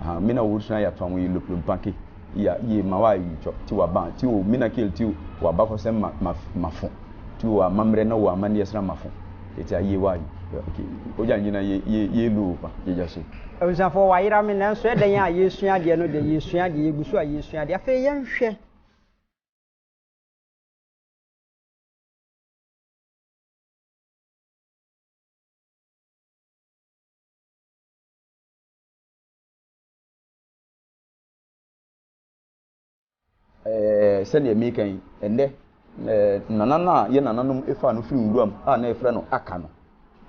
Aha mina wo sua ya twa wo yi lop lop pa ke ya ye ma wa yi twa ti wa ba ti o mina kel ti wa ba kɔ sɛ ma ma ma fo ti o ama mrɛ na o ama ni ɛsra ma fo eti a ye wa yi ok o ja nyina ye ye ye lu o pa ye ja se. Abusuafoɔ wayera me nanso ɛdɛn a yɛresua adeɛ no deɛ yɛresua adeɛ yɛgu so a yɛresua adeɛ afei yɛnhwɛ Eh, sɛdeɛ meka yi ɛndɛ eh, nana no a yɛ nananom ɛfaa no firi nwuram a na ɛfrɛ no aka no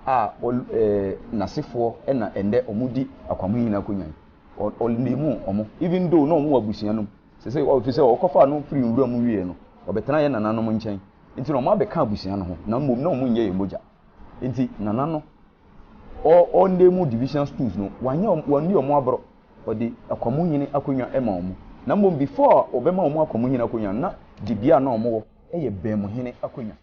a eh, nasefoɔ ɛna ɛndɛ ɔmo di akwamo yi nyinaa kɔnya yi ɔnemu ɔmo even though na ɔmo wɔ abusua nom sɛ sɛ ɔfi sɛ ɔkɔfaa no firi nwuram wieɛ no ɔbɛtena yɛ nananom nkyɛn nti na ɔmo abɛka abusua no ho na mmom na ɔmo nyɛ yɛ mogya nti nana no Ɔ ɔ ndɛ mu division schools no, wɔanyɛ wɔn, wɔanni wɔn aboro, wɔde akwamunhene akonnwa ma wɔn. Na mmom before a wɔbɛma wɔn akwamunhene akonnwa no, na dibea a na wɔn wɔ yɛ baamuhene akonnwa.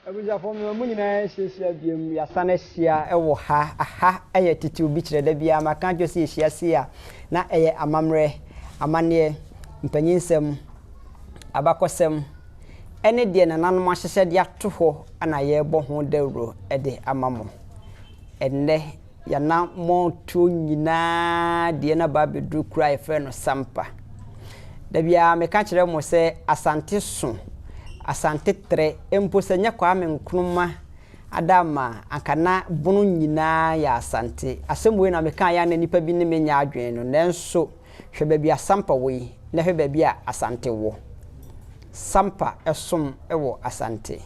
Abusuafo mmea, mo nyinaa yɛahyiahyia biom, yɛasan ahyia wɔ ha. Aha yɛ tete obi kyerɛ, da biara maka akyerɛ sɛ yɛhyia sei a, na ɛyɛ amammerɛ, amanneɛ, mpanyinsɛm, abakɔsɛm, ne deɛ nananom ahyehyɛ de ato hɔ na yɛrebɔ ho dawuro de ama mo. Ɛnnɛ. Y'anammɔntuo nyinaa deɛ na ba abɛduru kuro a yɛfrɛ no Sampa. Da biara meka kyerɛ mo sɛ Asante so, Asante trɛ, mpo sɛ nyɛ Kwame Nkrumah ada ama a, anka na Bono nyinaa yɛ Asante. Asɛm wei na mekaeɛ a na nnipa bi ne me nyɛ adwene no, nanso. Hwɛ baabi a Sampa wɔ yi na hwɛ baabi a Asante wɔ. Sampa som wɔ Asante.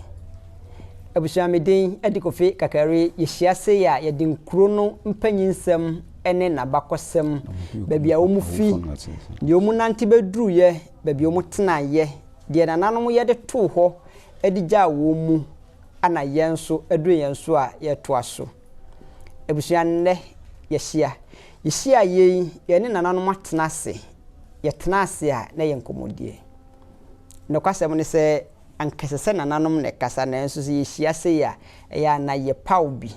Abusua me din de Kofi Kakari. Yɛhyia sei a yɛde nkuro no mpanyinsɛm ne n'abakɔsɛm, baabi a wɔn fi, deɛ wɔn nante bɛduruiɛ, baabi a wɔn tenaeɛ, deɛ nananom yɛ de too hɔ de gyaa wɔn mu, ɛna yɛn nso ɛduru yɛn so a yɛretoa so. Abusua nnɛ yɛahyia. Yehyiaeɛ yi, yɛne nananom atena ase. Yɛtenaa ase a, na ɛyɛ nkɔmmɔdie. Nokwasɛm ne sɛ, anka ɛsɛ sɛ nananom na ɛkasa, nanso sɛ yɛhyia sei a, ɛyɛ a na yɛpaw bi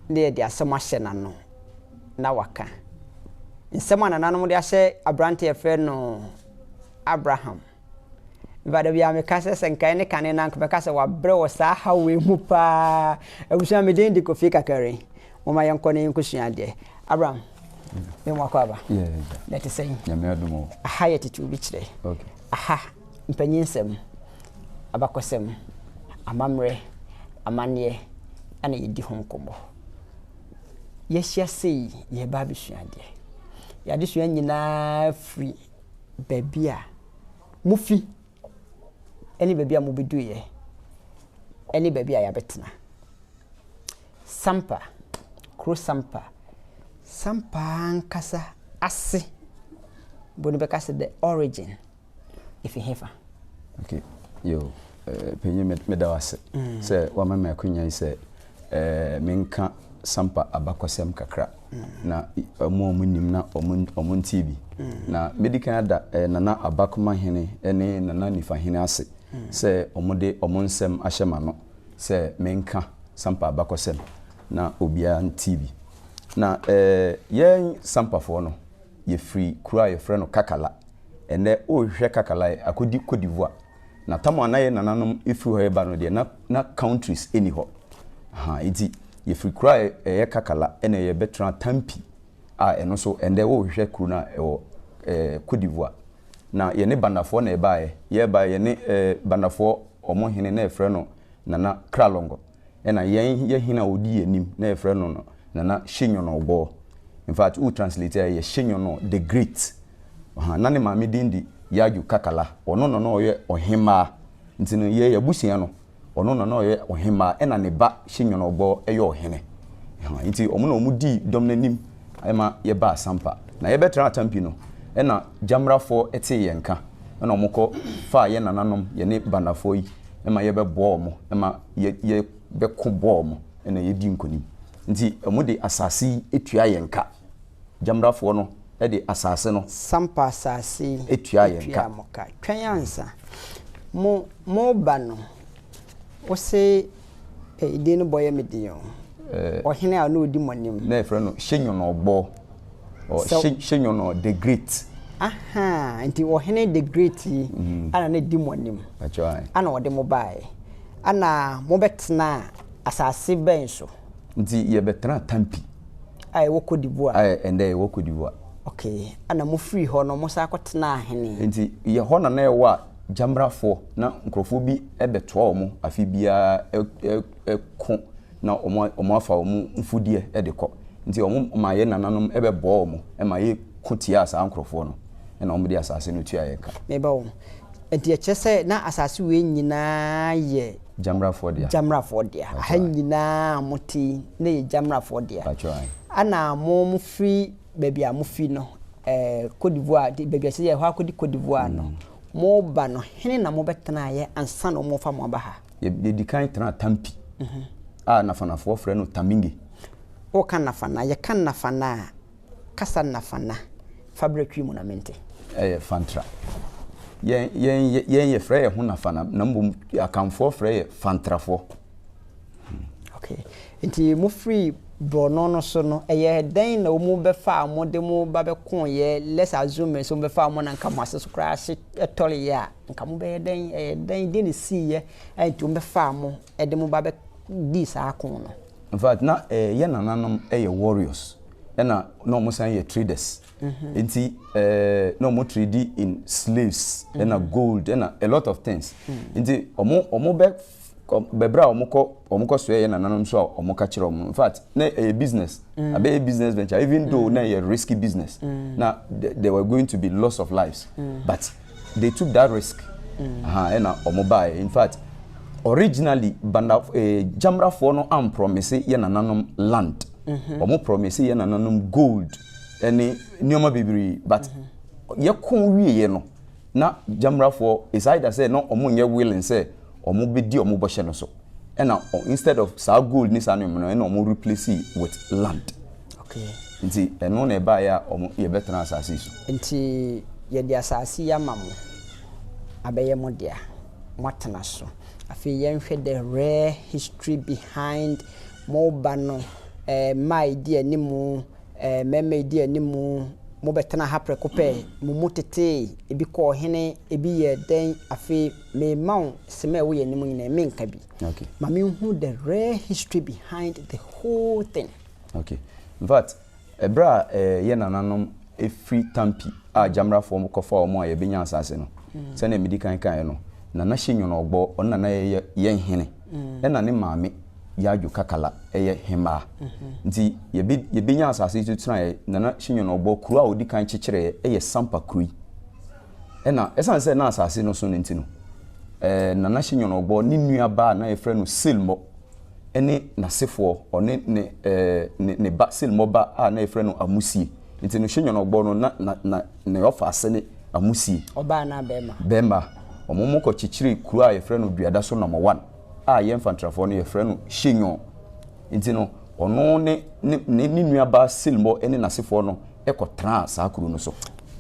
na yɛde asɛm ahyɛ n'ano na waka. Nsɛm a nananom de ahyɛ aberante a yɛfrɛ no Abraham. Mfa dabi a meka sɛ sɛ nka ɛne kane no a nka mɛka sɛ wabrɛ wɔ saa haw wei mu paa. Abusua me din de Kofi Kakari. Momma yɛnkɔ na yɛnkɔsua adeɛ. Abraham, me mu akɔ aba. Na ɛte sɛn? Nyame adom o. Aha yɛ tete obi kyerɛ. Aha, mpanyinsɛm, abakɔsɛm, amammerɛ, amanneɛ ɛna yɛdi ho nkɔmmɔ. Yɛahyia sei, yɛreba abɛsua adeɛ. Yɛn adesua nyinaa firi baabi a mufi ne baabi a mubeduiɛ ne baabi a yɛabɛtena. Sampa, kuro Sampa, Sampa ankasa ase bo no bɛka sɛ the origin ɛfiri hefa? Okay, yo, eh, panyin me- meda wo ase sɛ wama me akwanya yi sɛ eh, menka Sampa abakɔsɛm kakra. na wɔn a wɔnim na wɔntee bi. Na mɛdi kan ada Nana Abakoma Hene ne Nana Nifa Hene ase sɛ wɔde wɔn nsɛm ahyɛ m'ano sɛ menka Sampa abakɔsɛm, na obiara ntee bi. Na yɛn Sampafoɔ no, yɛfiri kuro a wɔfrɛ no Kakala. Ɛnnɛ, worehwehwɛ Kakala a, akɔdi Cote d'Ivoire. Na tam a na yɛ nananom firi hɔ reba no deɛ, na na countries nni hɔ. Ahaa, enti yɛfiri kuro a ɛyɛ Kakala na yɛbɛtenaa Tampi a ɛno nso, ɛnnɛ wohwehwɛ kuro no a, ɛwɔ ɛɛ Côte d'Ivoire. Na yɛne Bandafoɔ na yɛbaeɛ. Yɛbaeɛ, yɛne ɛɛ Bandafoɔ wɔn hene na yɛfrɛ no Nana Kralongo. Ɛna yɛn yɛ hɛn a ɔdi yɛn enim na yɛfrɛ no no Nana Hyenyonorbor. In fact, wo translate a yɛ Hyenyonor the Great. Ɔha, na ne maame din de Yaju Kakala. Ɔno na na ɔyɛ ɔhembaa. Ntsi no, yɛ abusua no, ɔno na na ɔyɛ ɔhembaa, ɛna ne ba Hyenyonorbor yɛ ɔhene. Ɔha, ntsi wɔn na wɔn dii dɔm no enim ma yɛbaa Sampa. Na yɛbɛtraa Tampi no, ɛna Gyamrafoɔ tsee yɛn nka, ɛna wɔkɔ faa yɛ nananom, yɛne Bandafoɔ yi, ma yɛbɛboa wɔn ma yɛbɛko bɔ wɔn na yɛadi nkonim. Nti wɔde asase yi tua yɛn ka. Gyamrafoɔ no de asase no Sampa asase yi tua yɛn ka. mo ka. Twɛn ansa. Mo, moreba no, wo se, Ei, din no bɔ yɛ me den o. Ɔhene a na ɔdi mo anim. Na yɛfrɛ no Hyɛ Nyɔnɔɔbɔɔ. Ɔ Sɛ- Hye- Hyenyo no the great. ahaa nti ɔhene the great yi Mm. ana ne di mo anim Pacho ai. ana ɔde mo baeɛ ana mobɛtena asase bɛn so Nti yɛbɛtena Tampi a ɛwɔ Cote d'Ivoire a ɛndɛ ɛwɔ Cote d'Ivoire. ok ana mofiri hɔ no mosan kɔtenaa hene Nti yɛ hɔ na na ɛwɔ a gyamrafoɔ na nkurɔfoɔ bi bɛtoa wɔn afe biara ɛ- ɛ- ɛko na wɔafa wɔn mfudeɛ de kɔ. Nti wɔmaa yɛn nananom bɛbɔɔ wɔn ma yɛko tiaa saa nkurɔfoɔ no, ɛna wɔde asase no tuaa yɛn ka. Meba ho. Nti ɛkyerɛ sɛ na asase wei nyinaa yɛ. Gyamrafoɔ dea. Gyamrafoɔ dea. Aha nyinaa a mote yi, na ɛyɛ Gyamrafoɔ dea. Pakyɛ ae. Ɛna mofiri baabi a mofi no, ɛɛ Côte d'Ivoire, baabi a ɛsɛ sɛ yɛkɔ akɔdi Côte d'Ivoire no, moba no, hene na mobɛtenaeɛ ansa na wɔrefa mo aba ha? yɛdi kan tena Tampi a Nafanafoɔ frɛ no Taminge. Woka Nafana, yɛka Nafana a, kasa Nafana fa berɛ twi mu na mente. Ɛyɛ Fantra. Yɛn, yɛn, yɛn yɛfrɛ yɛn ho Nafana na mmom Akanfoɔ frɛ yɛ Fantrafoɔ. Okay. Nti mofiri borɔno no so no, ɛyɛ dɛn na wɔn bɛfaa mo de mo ba bɛkooyɛ? Let's assume sɛ wɔn bɛfaa mo na nka mo ase so koraa hye tɔreeɛ a, Anka mobɛyɛ dɛn? Ɛyɛɛ dɛn? Deɛn na ɛsiiɛ a enti wɔbɛfaa mo de mo ba bɛdii saa ako no? In fact, na yɛn nananom yɛ warriors, ɛna na wɔn san yɛ traders. Nti na wɔn trade in slaves, ɛna gold, ɛna a lot of things. Nti wɔn bɛ kɔ bɛbrɛ a wɔkɔ wɔkɔ soɛ yɛ nananom nso a wɔka kyerɛ wɔn in fact na ɛyɛ business mm. abɛyɛ business venture even mm. though na ɛyɛ risky business mm. na there were going to be loss of lives mm. but they took that risk mm. aha ɛna wɔn baeɛ in fact originally banda eh, jamrafoɔ no amprɔmise yɛ nananom land wɔn mm-hmm. prɔmise yɛ nananom gold ɛne nneɛma bebree but mm-hmm. yɛkɔn wieɛ no. Na Gyamrafoɔ decided sɛ na ɔmo nyɛ willing sɛ ɔmo bɛdi ɔmo bɔhyɛ no so. Ɛna instead of saa gold ne saa nneɛma no ɛna ɔmo replace with land. Okay. Nti ɛno na ɛbaeɛ a ɔmo yɛbɛtena asaase yi so. Nti yɛde asaase yi ama mo abɛyɛ mo dea, moatena so. Afei yɛnhwɛ the rare history behind mo ba no, ɛɛ mma a ɛdi anim. Ɛɛ, mmarima a edi anim, mobɛtena ha prɛko pɛ? Mo mu tetee, ebi kɔɔ hene, ebi yɛɛ dɛn? Afei merema wo sema a ɛwɔ yɛn anim nyinaa, menka bi. Okay. Ma menhu the real history behind the whole thing. Okay. In fact, ɛberɛ a ɛɛ, yɛn nananom firi Tampi a Gyamrafoɔ kɔfaa wɔn a yɛbɛnya asaase no, sɛdeɛ medi kan kaeɛ no, Nana Hyenyono Ogbor, ɔno na na yɛ yɛn hene. Ɛna ne maame Yadwo Kakala yɛ hemmaa. Nti yɛbe yɛbenya asase yi so tenaeɛ, Nana Hyenyono ɔbɔ kuro a ɔdi kan kyekyereeɛ yɛ Sampa kuro yi. Ɛna ɛsiane sɛ na asase no so no nti no, ɛɛ Nana Hyenyono ɔbɔ ne nua baa na yɛfrɛ no Silmɔ ne n'asefoɔ, ɔne ne ɛɛ ne ne ba Silmɔ ba a na yɛfrɛ no Amusie. Nti no hwɛ nyɔnɔbɔ no na na na ne ɔfa ase ne amusie. Ɔbaa na bɛɛma. Bɛɛma. Ɔmo mo kɔ kyekyere kuro a yɛfrɛ no duada so nɔmɔ wan a yɛn fantrafoɔ no yɛfrɛ no hye nyɔn. Nti no ɔno ne ne ne ne nua baa silmɔ ne nasefoɔ no kɔ traa saa kuro no so.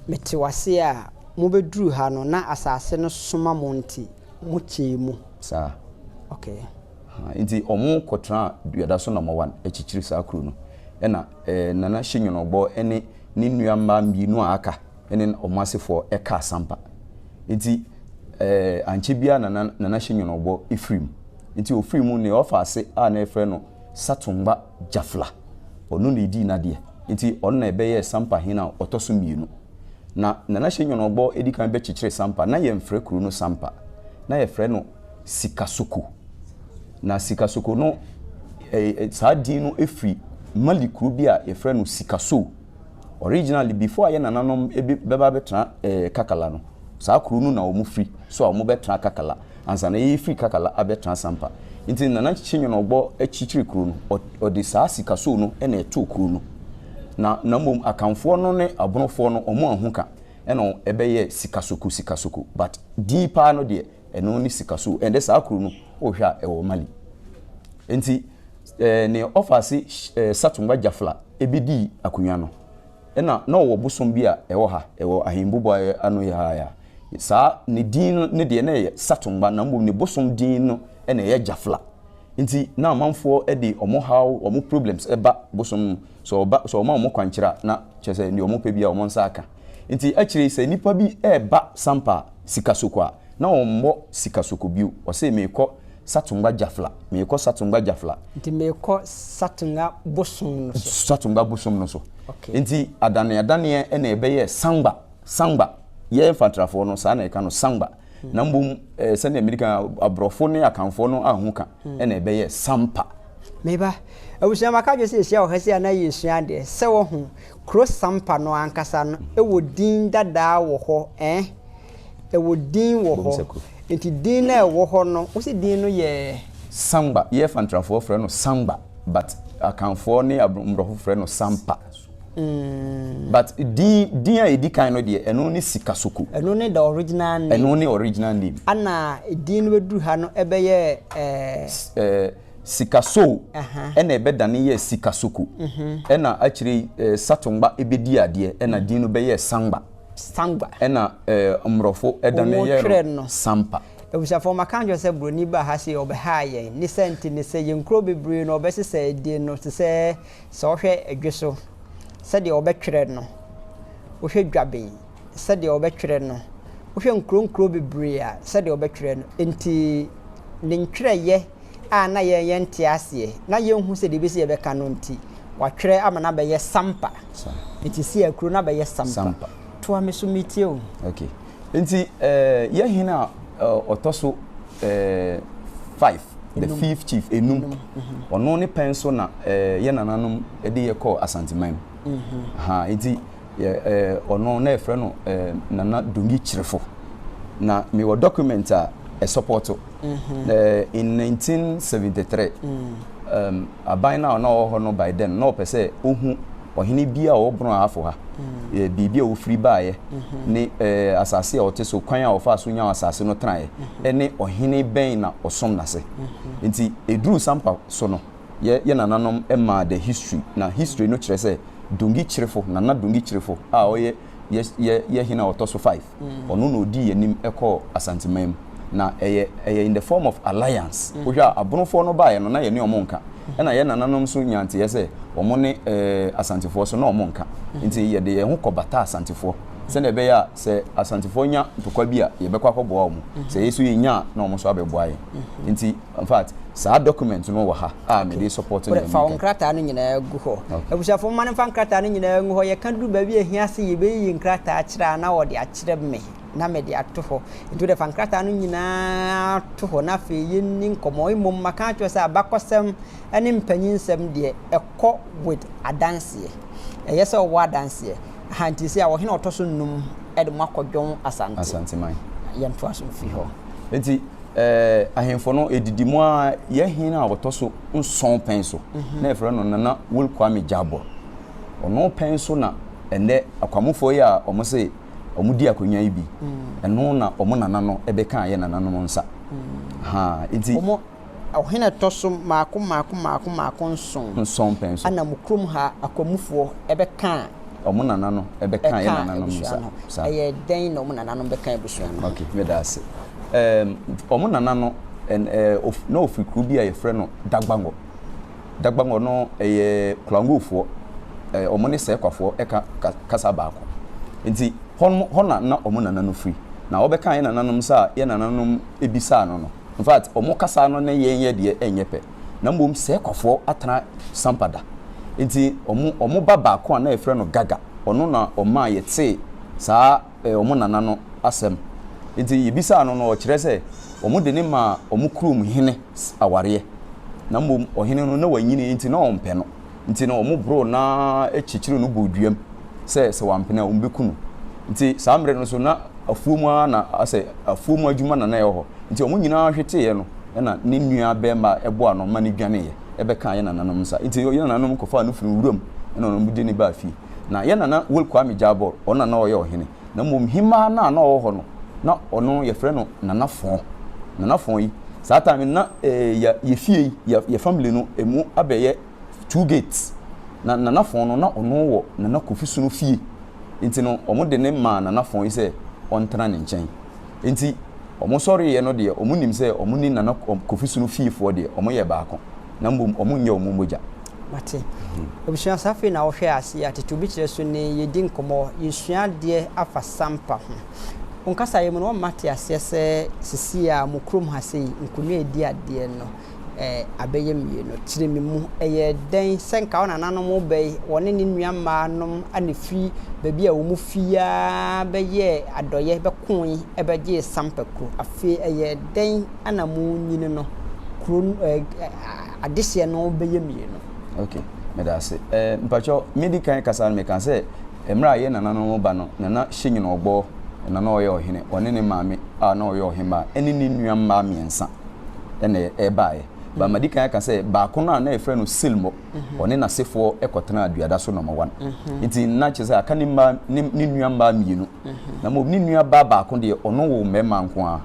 Me te wase a mo bɛ duru ha no na asaase no soma mo nti mo kyɛɛ mu. Saa. Okay. Haa nti ɔmo kɔ traa duada so nɔmɔ wan kyekyere saa kuro no ɛna. Nana Hyenwonobɔ ne ne nua mmaa mmienu a aka ne wɔn asefoɔ kaa Sampa. Nti ankyɛ biara na na Nana Hyenwonobɔ firi mu. Nti ɔfiri mu no, ɔfaa ase a na wɔfrɛ no Satungba Jafla. Ɔno na ɛdii n'adeɛ. Nti ɔno na ɛbɛyɛɛ Sampa hene a ɔtɔ so mmienu. Na Nana Hyenwonobɔ di kan bɛkyekyeree Sampa, na yɛmfrɛ kuro no Sampa. Na yɛfrɛ no Sikasoko. Na Sikasoko no, saa din no firi Mali kuro bi a wɔfrɛ no Sikasoo. Originally, before a yɛn nananom bɛba abɛtena Kakala no, saa kuro no na wɔfiri, so a wɔbɛtena Kakala, ansa na yɛrefiri Kakala abɛtena Sampa. Nti Nana Kyekyinyono Ogbɔ kyekyeree kuro no, ɔde saa Sikasoo no na ɛtoo kuro no. Na na mmom Akanfoɔ no ne Abonofoɔ no, wɔanhu ka na ɛbɛyɛɛ Sikasoko Sikasoko, but din paa no deɛ, ɛno ne sika so ɛnde saa kuro no wohwɛ a ɛwɔ mali nti ɛɛ ne ɔfaase ɛɛ satumba jafla ebi di akonnwa no ɛna na ɔwɔ bosom bi a ɛwɔ ha ɛwɔ ahembubu a ano yɛ ha ya saa ne din no ne deɛ na ɛyɛ satumba na mbom ne bosom din no ɛna ɛyɛ jafla nti na amanfoɔ ɛde wɔn haw wɔn problems ɛba bosom Sɛ ɔba, sɛ ɔma wɔn kwankyerɛ a, na kyerɛ sɛ nea wɔpɛ biara wɔn nsa aka. Enti akyire yi, sɛ nnipa bi reba Sampa Sikasoko a, na wɔmmɔ Sikasoko bio. Ɔse, Merekɔ Satungwa Jafla, merekɔ Satungwa Jafla. Nti merekɔ Satunga bosom no so. Satungwa bosom no so. Okay. Enti adaneadaneɛ na ɛbɛyɛɛ Sangba, Sangba. Yɛn Mfantrafoɔ no, saa na yɛka no, Sangba. na mmom eh, sɛnea mmiri kan aborɔfo ne akanfoɔ no ahu ka hmm. ɛna ɛbɛyɛ sampa meba abusua maka dwe sɛ yɛhyia wɔ ha si a na yɛsua adeɛ sɛ wɔho kuro sampa no ankasa no ɛwɔ hmm. din dadaa wɔ hɔ eh? ɛwɔ din wɔ hɔ nti din no ɛwɔ hɔ no wo sɛ din no yɛ samba yɛfa ntrafoɔ frɛ no samba but akanfoɔ ne mmorɔfo frɛ no sampa Mm. But din din a edi kan no deɛ ɛno ne Sikasoko. Ɛno ne the original name. Ɛno ne original name. Ana din no bɛduru ha no ɛbɛyɛ ɛɛ. Ɛɛ Sikaso ɛna ɛbɛdane yɛ Sikasoko. Mhm. Ɛna akyire yi ɛɛ Satongba ɛbɛdi adeɛ ɛna mm. din no bɛyɛ Sangba. Sangba. Ɛna ɛɛ Mmorɔfo ɛdane yɛ no Sampa. abusuafoɔ maka nkyerɛ sɛ buroni ba ha se ɔbɛhaa yɛn ne sɛ nti ne sɛ yɛn nkuro bebree no ɔbɛsesɛ din no te sɛ Sɛ ɔhwɛ dwe so sɛdeɛ wɔbɛtwerɛ no, wohwɛ dwaben sɛdeɛ wɔbɛtwerɛ no, wohwɛ nkuronkuro bebree a sɛdeɛ wɔbɛtwerɛ no. Enti ne ntwerɛeɛ a na yɛn yɛnte aseɛ, na yɛnhu sɛdeɛ ɛbɛsi yɛbɛka no nti, wɔatwerɛ ama no abɛyɛ sampa. Enti Siakuro no abɛyɛ sampa. Toa me so metie o. Okay. Nti yɛ hene a ɔtɔ so five, the fifth chief, enum, ɔno ne pɛn so na yɛ nananom de yɛ kɔɔ Asanteman mu. Ha nti ɔno na yɛfrɛ no Nana Dongi Kyerefo. Na mewɔ document a ɛsɔpɔto in 1973. Aban no a na ɔwɔ hɔ no bae dɛn? Ná ɔpɛ sɛ ohu ɔhene bi a ɔwɔ borɔn a afo ha, baabi a ofiri baeɛ, ne asase a ɔte so, kwan a ɔfaa so nyaa asase no tenaeɛ, ne ɔhene bɛn na ɔsom no ase. Enti ɛduruu saa mpa so no, yɛn yɛn nananom maa the history, na history no kyerɛ sɛ Dongi Kyirifo, Nana Dongi Kyirifo a ɔyɛ yɛn yɛn hene a ɔtɔ so 5, Ɔno na ɔdii anim kɔɔ Asanteman mu. Na ɛyɛ ɛyɛ in the form of alliance. Wohwɛ a Abonofoɔ no baeɛ no na yɛne wɔn nka. Ɛna yɛn nananom nso nyaa nteeɛ sɛ wɔn ne Asantefoɔ nso na wɔn nka. Nti yɛde yɛn ho kɔbataa Asantefoɔ sɛdeɛ ɛbɛyɛ a sɛ Asantefoɔ nya ntɔkwa bi a yɛbɛkɔ akɔboa wɔn. Sɛ yɛn nso yɛnya a na wɔn nso abɛboa yɛn. Nti. In fact, saa document no wɔ ha a mede Okay. support Wode nea fa wo meka yi. nkrataa no nyinaa gu hɔ. Okay. Abusuafo, momma no mfa nkrataa no nyinaa ngu hɔ. Yɛka duru baabi a ehia sɛ yebeyiyi nkrataa akyerɛ a, na wɔde akyerɛ me, na mede ato hɔ. Enti wode fa nkrataa no nyinaa to hɔ, na afei yenni nkɔmmɔ. Mmom, maka akyerɛ wo sɛ abakɔsɛm ne mpanyinsɛm deɛ ɛkɔ with adanseɛ. Ɛyɛ sɛ ɔwɔ adanseɛ. Aha nti sɛ a ɔhene ɔtɔ so nnum de mo akɔ Dwon Asante. Asanteman. Yɛntoa so mfiri hɔ. Enti eh, ahemfo no ɛdidi mu ara yɛ hene a ɔtɔ so nson pɛn so mhm. na ɛfrɛ no Nana Will Kwame Jabor. Ɔno pɛn so na ɛnɛ akwamofoɔ yi a wɔn se wɔn di akonnwa yi bi mm. ɛno na wɔn nana no ɛbɛka ayɛ nananom nsa mm. ha nti Ɔhene a ɛtɔ so mmaako mmaako mmaako mmaako nson. Nson pɛ nso. Ɛna mo kurom ha akwamufoɔ bɛkaa. Wɔn nananom bɛkaa yɛn nananom no saa. Ɛkaa abusua no. Ɛyɛ dɛn na wɔn nananom bɛkaa abusua no? Ok, me da ase. Ɛɛm, wɔn nana no, ɛn, ɛɛ, of, na ɔfiri kuro bi a yɛfrɛ no Dagbangɔ. Dagbangɔ no, ɛyɛ Klangofoɔ, ɛɛ, wɔn ne Sɛɛkwafoɔ ɛka ka, kasa baako. Nti, hɔ no, hɔ na na wɔn nana no firi. Na ɔbɛkaa yɛn nananom saa a, yɛn nananom bisaa no no. In fact, wɔn kasa no ne yɛn yɛ deɛ ɛnyɛ pɛ. Na mmom sɛɛ kwafoɔ atena sampa da. Nti wɔn wɔn ba baako a na yɛfrɛ no Gaga, ɔno na ɔmaa yɛtee saa eh, wɔn nana no asɛm. Nti yɛbisaa no no ɔkyerɛ sɛ wɔn de ne maa wɔn kurom hene awareɛ. Na mmom ɔhene no na wanyini nti na ɔmpɛ no. Nti no wɔboroo no ara kyekyeree no bɔɔ duam sɛ sɛ wampene a wɔbɛku no. Nti saa mmerɛ no nso na afuo mu ara na asɛ afuo mu adwuma na na ɛwɔ hɔ. Nti wɔn nyinaa hweteeɛ no na ne nua barima a ɛboa no ma no dwaneeɛ bɛkaa yɛn nananom nsa. Nti yɛn nananom kɔfaa no firii wuram na wɔn de no baa fie. Na yɛn nana Wol Kwame Gyabor ɔno na na ɔyɛ ɔhene. na mmom hemaa no a na ɔwɔ hɔ no, na ɔno yɛfrɛ no Nana Fɔn. Nana Fɔn yi, saa time no na yɛ yɛ fie yi, yɛ yɛ family no ɛmu abɛyɛ two gates. Na Nana Fɔn no, na ɔno wɔ Nana Kofi Sono fie. Nti no, wɔde no maa Nana Fɔn yi sɛ ɔntena ne nkyɛn. Enti wɔn sɔreeɛ no deɛ wɔn nim sɛ wɔn ne Nana Kofi Sunu fiefoɔ deɛ wɔn yɛ baako na mmom wɔn nyɛ wɔn mogya. Mate. Abusua saa afei na wohwɛ aseɛ a tete obi kyerɛ so ne yɛdi nkɔmmɔ, yɛsua adeɛ afa Sampa ho. Wo nkasaeɛ mu no wama mate aseɛ sɛ sesie a mo kurom ha sei, Nkonwa redi adeɛ no. eh, abɛyɛ mmienu. Kyere me mu, ɛyɛ dɛn sɛ nka wo nananom bɛn, wɔne ne nua mmaa nom a na firi baabi a wɔn fi ara bɛyɛɛ adɔyɛ bɛkoe bɛgyee Sampa kuro. Afei ɛyɛ dɛn na mo nyini no, kuro no, eh, eh, adehyeɛ no bɛyɛ mmienu. Ok, meda ase. Eh, mpakyɛ, me di kan kasa no meka sɛ, mmerɛ a yɛn nananom ba no, Nana Hyɛnyini Ɔbɔɔ na na ɔyɛ ɔhene, ɔne ne maame a na ɔyɛ ɔhemmaa, ɛne ne nua mmaa mmiɛnsa. ɛna ɛbaeɛ. Ba madi kan aka sɛ baako no a na yɛfrɛ no Silmo, mhm. ɔne n'asefoɔ kɔtenaa duada so nɔma wan. Mhm. Nti na kyerɛ sɛ aka ne mmaa ne nnua mmaa mmienu. Mhm. Na mmom ne nua baa baako deɛ ɔno wɔ mmarima nko ara.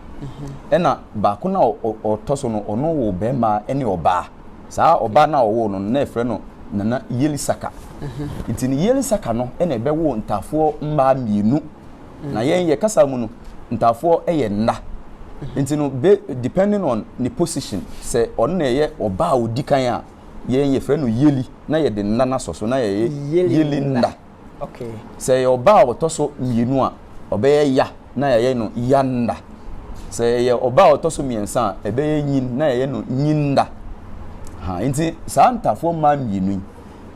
Ɛna baako no a ɔtɔ so no ɔno wɔ barima ne ɔbaa. Saa ɔbaa no a ɔwɔ no na yɛfrɛ no Nana Yelisaka. Nti ne Yelisaka no na ɛbɛwɔ ntaafoɔ mmaa mmienu. na mm. yɛn yɛ kasa mu no ntaafoɔ yɛ nna mm-hmm. nti no be depending on ne position sɛ ɔno na ɛyɛ ɔbaa odi kan a yɛn yɛfrɛ no yeli na yɛde nna no asɔ so na yɛyɛ yeli nna sɛ ɛyɛ ɔbaa a ɔtɔ so mmienu a ɔbɛyɛ ya na yɛyɛ no ya nna sɛ ɛyɛ ɔbaa a ɔtɔ so mmiɛnsa a ɛbɛyɛ nyin na yɛyɛ no nyin nna nti saa ntaafoɔ mmaa mmienu yi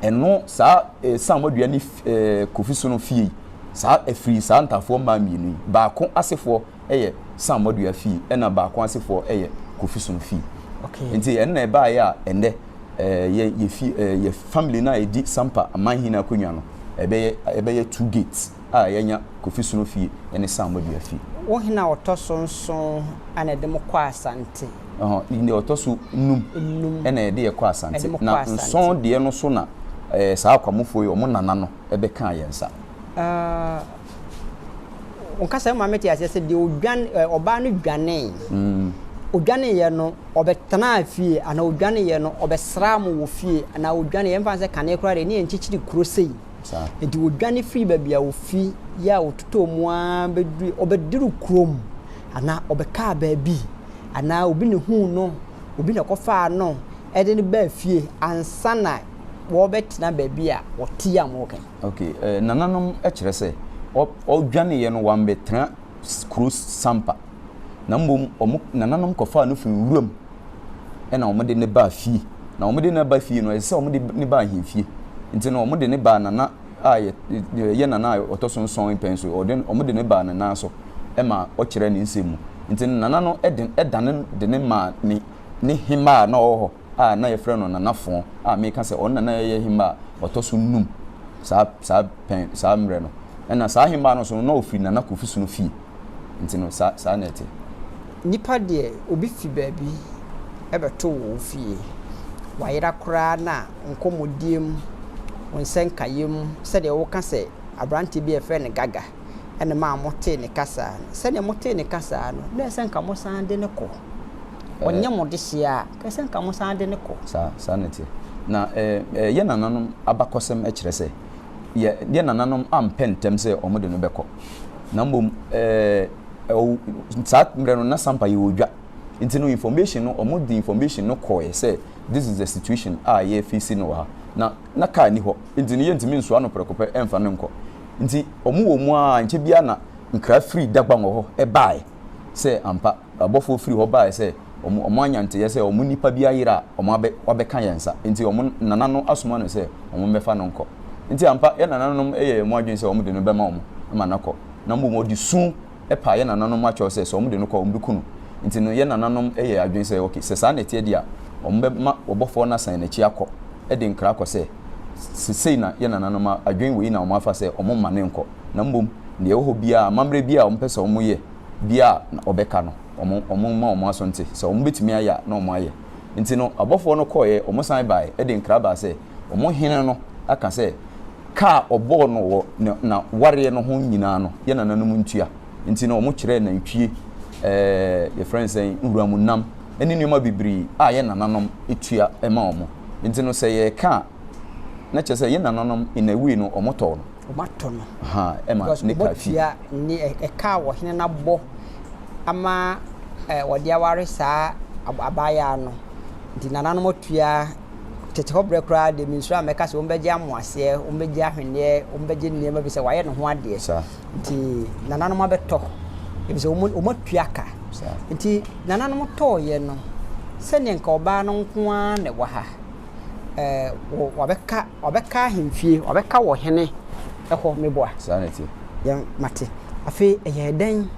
Ɛno saa eh, Sam Wadua ne eh, Kofi Sono fie yi, saa ɛfiri saa Ntafoɔ mmaa mmienu yi. Baako asefoɔ yɛ Sam Wadua fie, ɛna baako asefoɔ yɛ Kofi Sono fie. Okay. Nti ɛno na ɛbaeɛ a ɛnɛ eh, yɛ, yɛ, fie, eh, yɛ family no a ɛdi Sampa amanhene akonnwa no, ɛbɛyɛ, ɛbɛyɛ two gates a yɛanya Kofi Sono fie ne Sam Wadua fie. Wo hene a ɔtɔ so nson na ɛde mo kɔ Asante. Ɛhɔ, ne deɛ ɔtɔ so num ɛna ɛde yɛ kɔ asante. Na nson deɛ no so na ɛɛ saa akwamufoɔ yi wɔn nana no ɛbɛ kaa yɛn nsa. Ɔkasa yi ma mete aseɛ sɛ deɛ odwan ɔbaa no dwanee. Mm. odwaneeɛ no ɔbɛtenaa fie anaa odwaneeɛ no ɔbɛsraa mo wɔ fie anaa odwaneeɛ mfa sɛ kane koraa deɛ ne yɛnkyekyere kuro sei Enti wɔdwane firii baabi a wɔfi yɛ a wɔtotɔɔ mu ara bɛdurui, wɔbɛduru kurom anaa wɔbɛkaa baabi anaa obi na huu no, obi na kɔfaa no ɛde no baa fie ansa na wɔbɛtena baabi a wɔte a wɔka. Ok, eh, nananom kyerɛ sɛ wɔdwaneeɛ no wɔambɛtena kuro sampa. na mmom wɔn nananom kɔfaa no firi nwura mu na wɔde no baa fie. Na wɔde no ba fie no, ɛsɛ sɛ wɔde no ba ahemfie. Nti no, wɔde no baa nana a ɛyɛ nana a ɔtɔ so nson mpɛn so. Wɔde no baa ne nan so ma ɔkyerɛɛ ne nsɛm mu. Nti no, nana no de dane de no maa ne hemmaa a na ɔwɔ hɔ. a na yɛfrɛ no Nana Fon a meka sɛ ɔno na na ɛyɛ hemmba a ɔtɔ so nnum saa saa pɛn saa mmerɛ no. Ɛna saa hemmba no nso no na ɔfiri Nana Kofi Sono fie. Nti no saa saa na ɛte. Nipa deɛ obi fi baabi bɛto wo wo fie, wayera koraa na nkɔmmɔdie mu, wo nsɛnkaeɛ mu sɛdeɛ woka sɛ aberanteɛ bi a yɛfrɛ no Gaga. ɛna ɛmaa motee ne ka saa no. Sɛdeɛ motee ne ka saa no, na ɛsɛ sɛ anka mosan de no kɔ. Ɔnyɛ mo dehyeɛ a, anka ɛsɛ sɛ anka mosan de no kɔ. Saa, saa na ɛteɛ. Na ɛɛ, yɛn nananom abakɔsɛm kyerɛ sɛ, yɛ, yɛn nananom ampɛ ntɛm sɛ wɔde no bɛkɔ. Na mmom, ɛɛ, ɔw, saa mmerɛ no, na Sampa yɛ odwa. Nti no, information no, wɔde information no kɔeɛ sɛ, this is the situation a yɛrefeesi no wɔ ha. Na, na car nni hɔ. Nti no, yɛntumi nsoa no prɛko pɛ mfa no nkɔ. Ntsi wɔwɔ mu ara nkyɛ biara na nkra fir Dagbangua hɔ bae sɛ ampa abɔfoɔ fir hɔ bae sɛ wɔanya ntseyɛ sɛ wɔn nyimpa bi ayer a wɔabɛka hɛn nsa, ntsi wɔn nana no asoma no sɛ wɔmbɛfa no nkɔ. Ntsi ampa hɛn nananom yɛɛ hɔn adwen sɛ wɔde no bɛma wɔn ma no akɔ, na mbom wɔde su paa yɛn nananom mu akyɛw sɛ sɛ wɔde no kɔ a, wɔbeku no. Enti no, yɛn nananom yɛɛ adwene sɛ, Ok, sɛ saa na ɛteɛ deɛ a, wɔbɛma ɔbɔfoɔ no asan n'akyi akɔ de nkra akɔ sɛ, Seesei na yɛn nananom adwene wei na wɔafa sɛ wɔmma no nkɔ, na mmom deɛ ɛwɔ hɔ biara, amammerɛ biara a wɔpɛ sɛ wɔyɛ biara a, na wɔbɛka no. Wɔmma wɔn aso nte. Sɛ wɔbetumi ayɛ a, na wɔayɛ. Enti no, abɔfoɔ no kɔeɛ, wɔsan baeɛ de nkra baa sɛ, wɔn hene no aka sɛ, Ka a ɔbɔɔ no wɔ ne na wareɛ no ho nyinaa no yɛ nananom ntua nti no ɔmo kyerɛɛ nantwie ɛɛ yɛfrɛ no sɛn nwuramu nam ɛne nnoɔma bebiree a yɛ nananom tua ɛma ɔmo nti no sɛ yɛɛka a na kyerɛ sɛ yɛ nananom in a way no ɔmo tɔɔ no Ɔmo atɔ no ahaa ɛma because ne ɔmo kaa fie. tua ne ɛ ɛka a ɔhene no abɔ ama ɛ ɔde aware saa ab abaayaa no nti nananom atua. Tete hɔ berɛ koraa deɛ mensuro a mɛka sɛ wɔbɛgye amoaseɛ, wɔbɛgye ahweneɛ, wɔbɛgye nneɛma bi sɛ wayɛ ne ho adeɛ. Nti nananom abɛtɔ, ebi sɛ wɔn atua ka. Nti nananom tɔɔyɛ no, sɛdeɛ nka ɔbaa no nko ara na ɛwɔ ha. Ɛɛ wabɛka wabɛka ahemfie, wabɛka wɔ hene ɛhɔ meboa. Saa na ɛte. Yɛn mate. Afei ɛyɛ dɛn?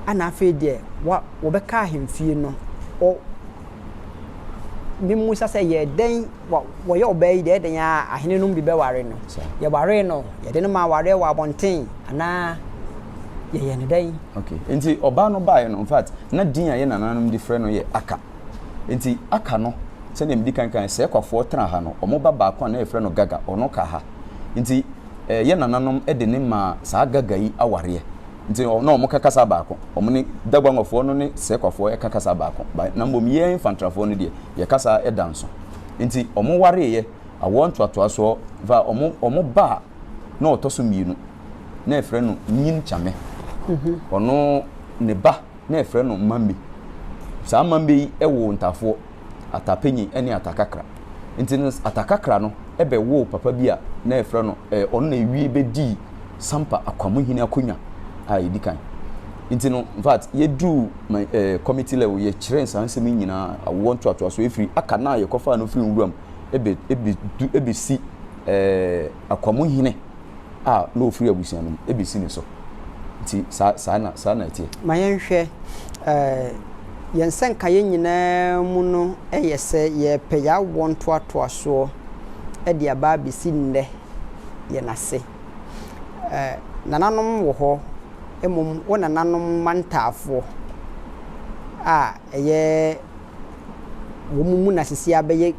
Ana afei deɛ wa wɔbɛka ahemfie no, Mimmisa sɛ, Yɛ dɛn? Wɔyɛ ɔbaa yi deɛ, ɛdɛn ara a, ahenenom bi bɛware no. Yɛwaree no, yɛde no maa awareɛ wɔ abɔnten, anaa yɛyɛ no dɛn? Okay. Enti ɔbaa no baeɛ no, in fact, na din a yɛn nananom de frɛ no yɛ Aka. Enti Aka no, sɛdeɛ medi kan kaeɛ, sɛ Kwafoɔ tena ha no, wɔn ba baako a na yɛfrɛ no Gaga, ɔno ka ha. Enti eh, yɛn nananom de no maa saa Gaga yi awareɛ. Nti ɔ, na wɔka kasa baako. Wɔne Daguangwafoɔ no ne Sequafoɔ ka kasa baako. Ba, na mmom yɛn Fantrafoɔ no deɛ, yɛ kasa da nso. Nti wɔwareeɛ, awoɔ ntoatoasoɔ, va, wɔn, wɔn ba a na ɔtɔ so mmienu, na yɛfrɛ no Nyin Kyame. Ɔno, ne ba. na ɛfrɛ no mmambe. Saa mmambe yi woo ntafoɔ, atapenyin ne atakakra. Nti no atakakra no bɛwoo papa bi a na ɛfrɛ no, ɛɛ ɔno na ɛwie bɛdii Sampa Akwamuhene akonwa a ɛdi kan. Nti no in fact yɛduruu ma ɛɛ committee level yɛkyerɛɛ saa nsɛm yi nyinaa, awoɔ ntoatoasoɔ firi aka no a yɛkɔfaa no firi nwura mu bɛ bɛ bɛ du bɛsi ɛɛ. Akwamuhene a na ɔfiri abusua no mu bɛsi ne so. Nti saa, saa na, saa na ɛteɛ. Ma yɛnhwɛ, eh, yɛn nsɛnkaeɛ nyinaa mu no yɛ sɛ yɛrepɛ yɛawoɔ ntoatoasoɔ de aba abɛsi nnɛ yɛn ase. Eh, nananom wɔ hɔ, mmom wo nananom mantaafoɔ a ɛyɛ. wɔn mu na sisi abɛyɛ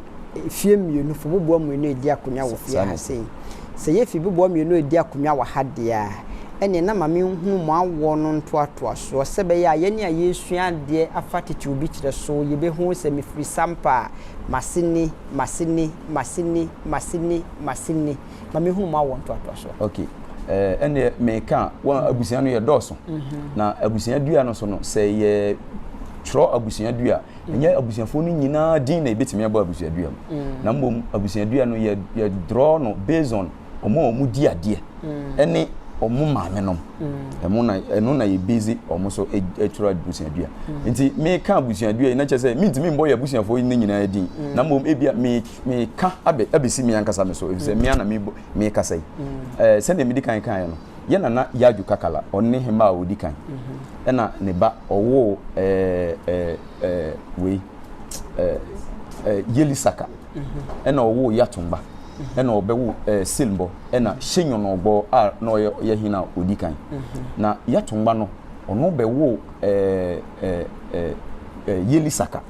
fie mmienu fo boboa mmienu edi akonnwa wɔ fie ha sei sɛ yɛ fi boboa mmienu edi akonnwa wɔ ha deɛ a ɛneɛ na maame nhunu mo awoɔ no ntoatoasoɔ sɛ bɛyɛ a yɛne a yɛsua adeɛ afa titiriw bi kyerɛ so yɛbɛhu sɛ mefiri sampa a maseni maseni maseni maseni maseni ma me hunu ma wɔ ntoatoa so. okay ɛɛ eh, ɛnneɛ meka a wɔn mhm. abusua no yɛ dɔɔso mhm. na abusua dua no so no sɛ yɛ twerɛ abusua dua mhm. ɛnyɛ abusuafoɔ no nyinaa din na ebetumi abɔ abusua dua mu na mmom abusua dua no yɛ yɛ draw no based on wɔn a wɔn di adeɛ ɛne wɔn maame nom ɛmo na ɛno na yɛ busy wɔn so e, atwerɛ abusua dua nti meka abusua dua yi na kyerɛ sɛ mintumi mbɔ yɛ abusuafoɔ yi ne nyinaa din na mmom ebia meka. Meka abɛ, abɛsi me ankasa me so, ɛfiri sɛ me ara na me, mekasa yi. Eh, sɛdeɛ medi kan kaeɛ no, yɛ nana Yaju Kakala, ɔno ne hemmaa a ɔdi kan. Ɛna ne ba, ɔwoo eh, eh, eh, wei, eh, eh, Yelisaka, ɛna ɔwoo Yatumba, ɛna ɔbɛwo eh, Silmbɔ, ɛna Shenyɔnɔgbɔ a na ɔyɛ, ɔyɛ hene a ɔdi kan. Na Yatumba no, ɔno bɛwoo eh, eh, eh, eh, Yelisaka.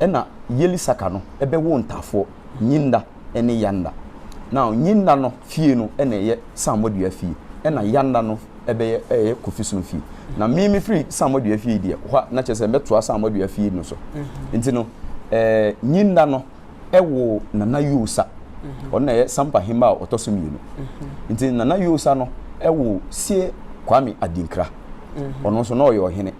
Ɛna Yelisaka no bɛwoo ntaafoɔ, Nyinda ne Yanda. Now Nyinda no fie no na ɛyɛ Samuadua fie, ɛna Yanda no bɛyɛ ɛyɛ Kofisom fie. Na me mefiri Samuadua fie deɛ, hɔ a na kyerɛ sɛ mɛtoa Samuadua fie no so. Mhm. Nti no, ɛɛ Nyinda no ɛwoo Nana Yosa. Mhm. Ɔno na ɛyɛ Sampa hemma a ɔtɔ so mmienu. Mhm. Nti Nana Yosa no ɛwoo Sie Kwame Adinkra. Ɔno nso na ɔyɛ ɔhene.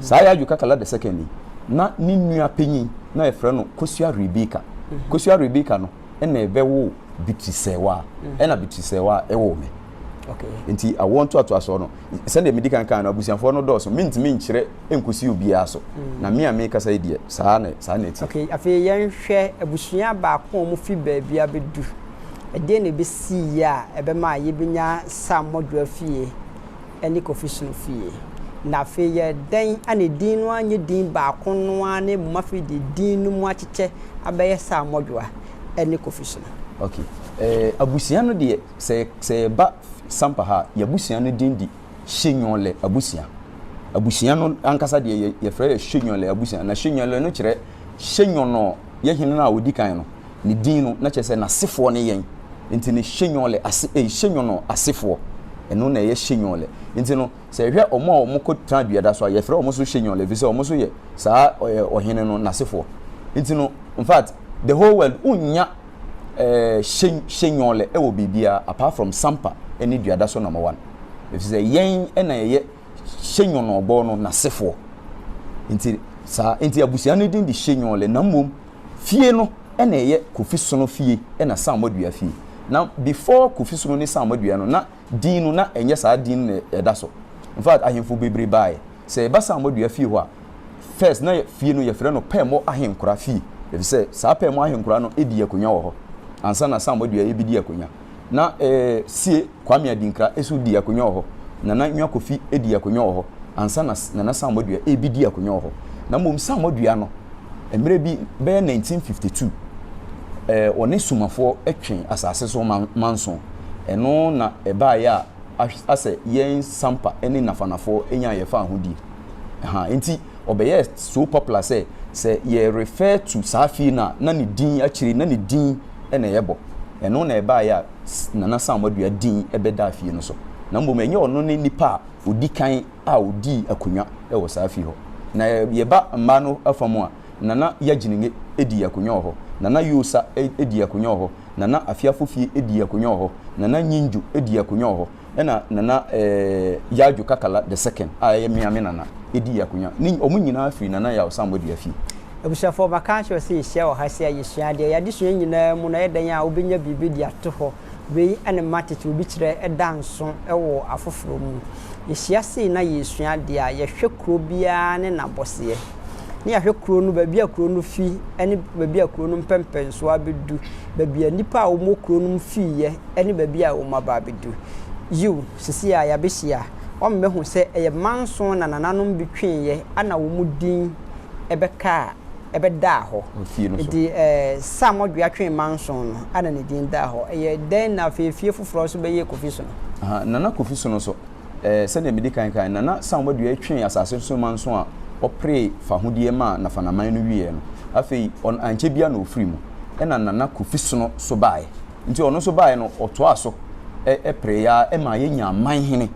Saa Yaju Kakala the second yi, na ne nua panyin na wɔfrɛ no Kosua Rebeka. Kosua Rebeka no na ɛbɛwoo Bitri Sɛwa, ɛna Bitri Sɛwa woo me. Nti awoɔ ntoatoasoɔ no, sɛdeɛ medi kan kaa no, abusuafoɔ no dɔɔso, mentumi nkyerɛ nkɔsi obiara so. Na me a mekasa yi deɛ, saa na saa na ɛte. Ok, afei yɛnhwɛ abusua baako a wɔfiri baabi abɛdu. Ɛdeɛn na ɛbɛsiiɛ a ɛbɛma yɛbɛnya Sam Modwoa fie? ne Kofi Sunu fie. Na afei yɛ dɛn a ne din no ara nyɛ din baako no ara na mmom afei deɛ din no mu akyekyɛ abɛyɛ Sir Modwoa ne Kofi Sunu? Ok, eh, abusua no deɛ, sɛ, sɛ yɛba Sampa ha a, yɛn abusua no din de Hyenwɔlɛ abusua. Abusua no ankasa deɛ yɛ, yɛfrɛ yɛ Hyenwɔlɛ abusua. Na Hyenwɔlɛ no kyerɛ Hyenwɔnɔ, yɛ hene no a ɔdi kan no. Ne din no, na kyerɛ sɛ n'asefoɔ ne yɛn. Nti ne Shenyɔle ase, ei, Shenyɔnɔ asefoɔ. Ɛno na ɛyɛ Shenyɔle. Nti no, sɛ yɛhwɛ wɔn a wɔkɔtenaa dua da so a, yɛfrɛ wɔn nso Shenyɔle, ɛfiri sɛ wɔn nso yɛ saa ɛ, ɔhene no n'asefoɔ. Nti no, in fact, the whole world, wonnya ɛ, She, Shenyɔle wɔ biribiara apart from Sampa ne dua da so number one. Ɛfiri sɛ yɛn na yɛyɛ Shenyɔnɔ bɔ no n'asefoɔ. Nti saa, nti abusua no din de Shenyɔle, na mmom Fie no na ɛyɛ Kofi Sono fie na Sammor Dua fie. Na before Kofi Sono ne Sammor Dua no na din no na ɛnyɛ saa din no na ɛda so. In fact ahemfo bebree baaɛ. Sɛ yɛba Sammor Dua fie hɔ a first na fie no yɛfrɛ no Pɛɛmɔ Ahenkora fie efisɛ saa Pɛɛmɔ Ahenkora no di akonwa wɔ hɔ ansa na Sammor Dua ɛbedi akonwa. na ɛɛ sie Kwame Adinkra nso di akonnwa wɔ hɔ. Nana Nwa Kofi di akonnwa wɔ hɔ ansa na Nana Samoa Dua rebedi akonnwa wɔ hɔ. Na mmom Samoa Dua no, mmerɛ bi bɛyɛ 1952, ɛɛ ɔne Sumafoɔ twe asase so manso. Ɛno na ɛbaeɛ a asɛ yɛn Sampa ne Nafanafoɔ nyaa yɛn fahodie. Ahaa, enti. Ɔbɛyɛɛ so popular sɛ, sɛ yɛ refer to saa fie no a, na ne din akyire no, na ne din na yɛbɔ. Ɛno na ɛbaeɛ a Nana Sam Adua din bɛdaa fie no so. Na mmom ɛnyɛ ɔno ne nipa a ɔdi kan a ɔdii akonnwa wɔ saa fie hɔ. Na yɛba mmaa no afa mu a, Nana Yagyenenge dii akonnwa wɔ hɔ, Nana Yoosa dii akonnwa wɔ hɔ, Nana Afeafofie dii akonnwa wɔ hɔ, Nana Nyingyo dii akonnwa wɔ hɔ, Ɛna Nana Yaw-Dwo Kakala the second a ɛyɛ me a me nana dii akonya. Ne wɔn nyinaa firi Nana Yaw Sambɔ dua fie. Abusuafoɔ maka akyerɛ sɛ yɛhyia wɔ ha sɛ a yɛsua adeɛ. Yɛn adesua nyinaa mu no ɛyɛ dɛn a wobɛnya biribi de ato hɔ. Wei ne mma tete obi kyerɛ da nso wɔ afoforɔ mu. Yɛhyia sei na yɛresua adeɛ a, yɛhwɛ kuro biara ne n'abɔseɛ. na yɛahwɛ kuro no, baabi a kuro no fi ne baabi a kuro no mpɛmpɛnsoɔ abɛdu, baabi a nnipa a wɔwɔ kuro no mu fiiɛ ne baabi a wɔaba abɛdu. Yiw, seesei a yɛabɛhyia, wɔbɛhu sɛ ɛyɛ mma nson na nananom bi tweeɛ a na wɔn din bɛkaa, ɛbɛdaa hɔ. Enti Sam Odwea twee mma nson no a na ne din daa hɔ. Ɛyɛ dɛn na afei efie foforɔ nso bɛyɛ Kofi Sono? Nana Kofi Sono nso, Ɛɛ, sɛdeɛ medi kan kae no, Nana Sam Wadua twee asase so man so a ɔperee fahodie maa Nafanaman no wieɛ no, afei ɔn ankyɛ biara na ɔfirii mu. Ɛna Nana Kofi Sono so baaɛ. Nti ɔno nso baaɛ no, ɔtoaa so ɛ pereeɛ ara ɛmaa yɛnyaa manhene.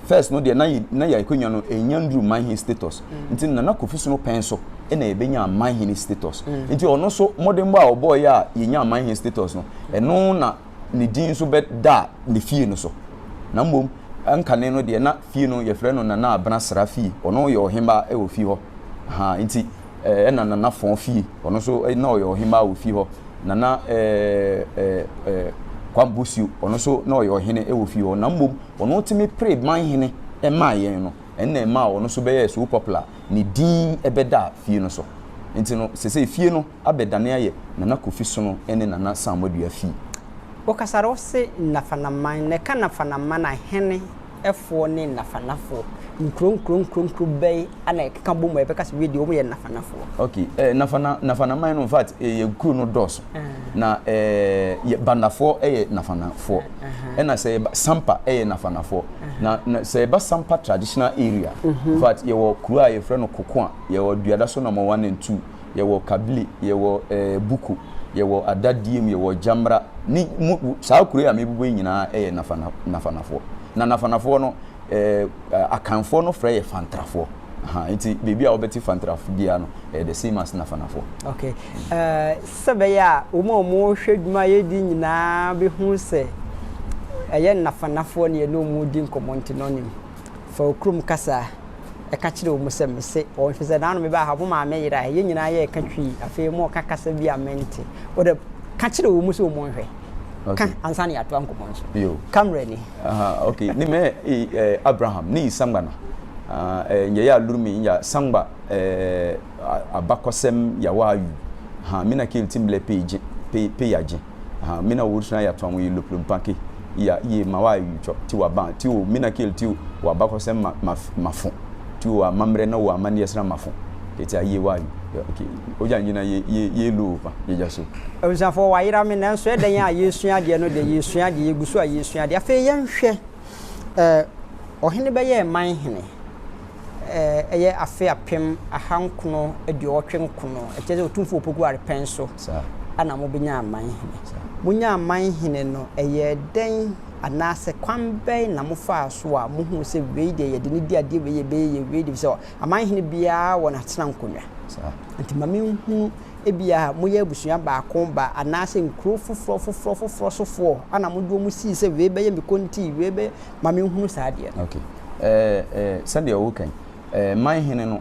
First no deɛ na yɛ na yɛ akwanya no ɛnnya nnuru manhene status. Nti Nana Kofi Sono pɛn so ɛna yɛbɛnyaa manhene status. Nti ɔno nso mmɔdenbɔ a ɔbɔeɛ a yɛnyaa manhene status no, ɛno na. ne din nso bɛda ne fie no so. Na mmom ɛnkane no deɛ na fie no yɛfrɛ no Nana Abena Sra fie. Ɔno yɛ ɔhemmaa ɛwɔ fie hɔ. Ahaa nti ɛna Nana Fɔn fie ɔno nso na ɔyɛ ɔhemmaa wɔ fie hɔ. Nana Kwam Bosuo ɔno nso na ɔyɛ ɔhene ɛwɔ fie hɔ. Na mmom ɔno tumi pere manhene ɛmaa yɛn no ɛno na ɛmaa ɔno nso bɛyɛɛ so popular ne din ɛbɛdaa fie no so. Nti no sɛsɛi fie no. abɛdane ayɛ Nana Kofi Sono ne Nana Samoadua fie. Wokasar wo se Nafanaman, na ɛka Nafanaman ahene foɔ ne Nafanafoɔ. Nkuro nkuro nkuro nkuro bɛn na ɛkeka bom a yɛbɛka se wedeɛ wɔyɛ Nafanafoɔ? Ok, eh, Nafana, Nafanaman no, in fact, eh, yɛ nkuro no dɔɔso. Uh -huh. Na eh, Bandafoɔ yɛ Nafanafoɔ. Uh -huh. Ɛna sɛ yɛba Sampa yɛ Nafanafoɔ. Uh -huh. Na, na sɛ yɛba Sampa traditional area, uh -huh. in fact, yɛwɔ kuro a yɛfrɛ no Kokoa, yɛwɔ Duadaso number one and two. yɛwɔ kabli, yɛwɔ eh, buku, yɛwɔ adadiem, yɛwɔ gyamra, ne mu, saa kuro yi a mebobɔ yi nyinaa yɛ nafana, nafanafoɔ. Na nafanafoɔ no, eh, akanfoɔ no frɛ yɛ fantrafoɔ. Aha, nti baabi a wɔbɛte fantrafo biara no, ɛyɛ the same as nafanafoɔ. Ok, eh, sɛ bɛyɛ a wɔn a wɔhwɛ dwuma yɛdi nyinaa bɛhu sɛ ɛyɛ nafanafoɔ ne yɛne wɔn di nkɔmmɔ nti no nim. Fa wo kurom kasa ka kyerɛ wɔn sɛ, 'Mise wɔn, ɛfiri sɛ naano mebaa ha, mo maame yeraeɛ. Yɛn nyinaa yɛɛ ka twi. Afei moreka kasa bi a mente. Wo deɛ, ka kyerɛ wɔn sɛ wɔnhwɛ. Ka ansa na yɛatoa nkɔmmɔ no so. Ka mmerɛ ni. Ok, ne mɛ Abraham ne Isangba na nyɛ yɛ aluru me nya sangba abakɔsɛm yawaa yu ha me na ke ltimblɛ pe yagye. aha mina wo suna ya tɔn yi loplo mpake iya iye ma wa yi tɔ ti wa ban ti o mina kel ti wa bakɔsɛm ma ma mafo ti o amammerɛ na o amanneɛ sra mafo kɛti a iye wa yi ok ogya nyina ye ye ye lo pa yɛgya so. Abusuafoɔ wayera me nanso ɛdɛn a yɛresua adeɛ no deɛ yɛresua adeɛ yɛgu so a yɛresua adeɛ afei yɛnhwɛ. Ɛɛ, ɔhene bɛyɛɛ man hene. Ɛɛ, ɛyɛ afe apem ahankono aduɔwɔtwe nkono. Ɛkyerɛ sɛ Otumfoɔ Opoku Ware pɛn so na mobenyaa man hene. Monyaa man hene no, ɛyɛɛ dɛn anaasɛ kwan bɛn na mofaa so a mohuu sɛ wei deɛ yɛde no di adeɛ, wei yɛbɛyɛ yɛ wei deɛ, ɛfiri sɛ aman hene biara wɔ n'atenankonnwa. Nti ma menhunu ebia moyɛ abusua baako ba anaasɛ nkuro foforɔ foforɔ foforɔ sofoɔ ana mode wɔn sii sɛ wei bɛyɛ me konti wei bɛ ma menhunu saa adeɛ no. Okay. Eh, eh, sɛdeɛ ɔwo kan eh, man hene no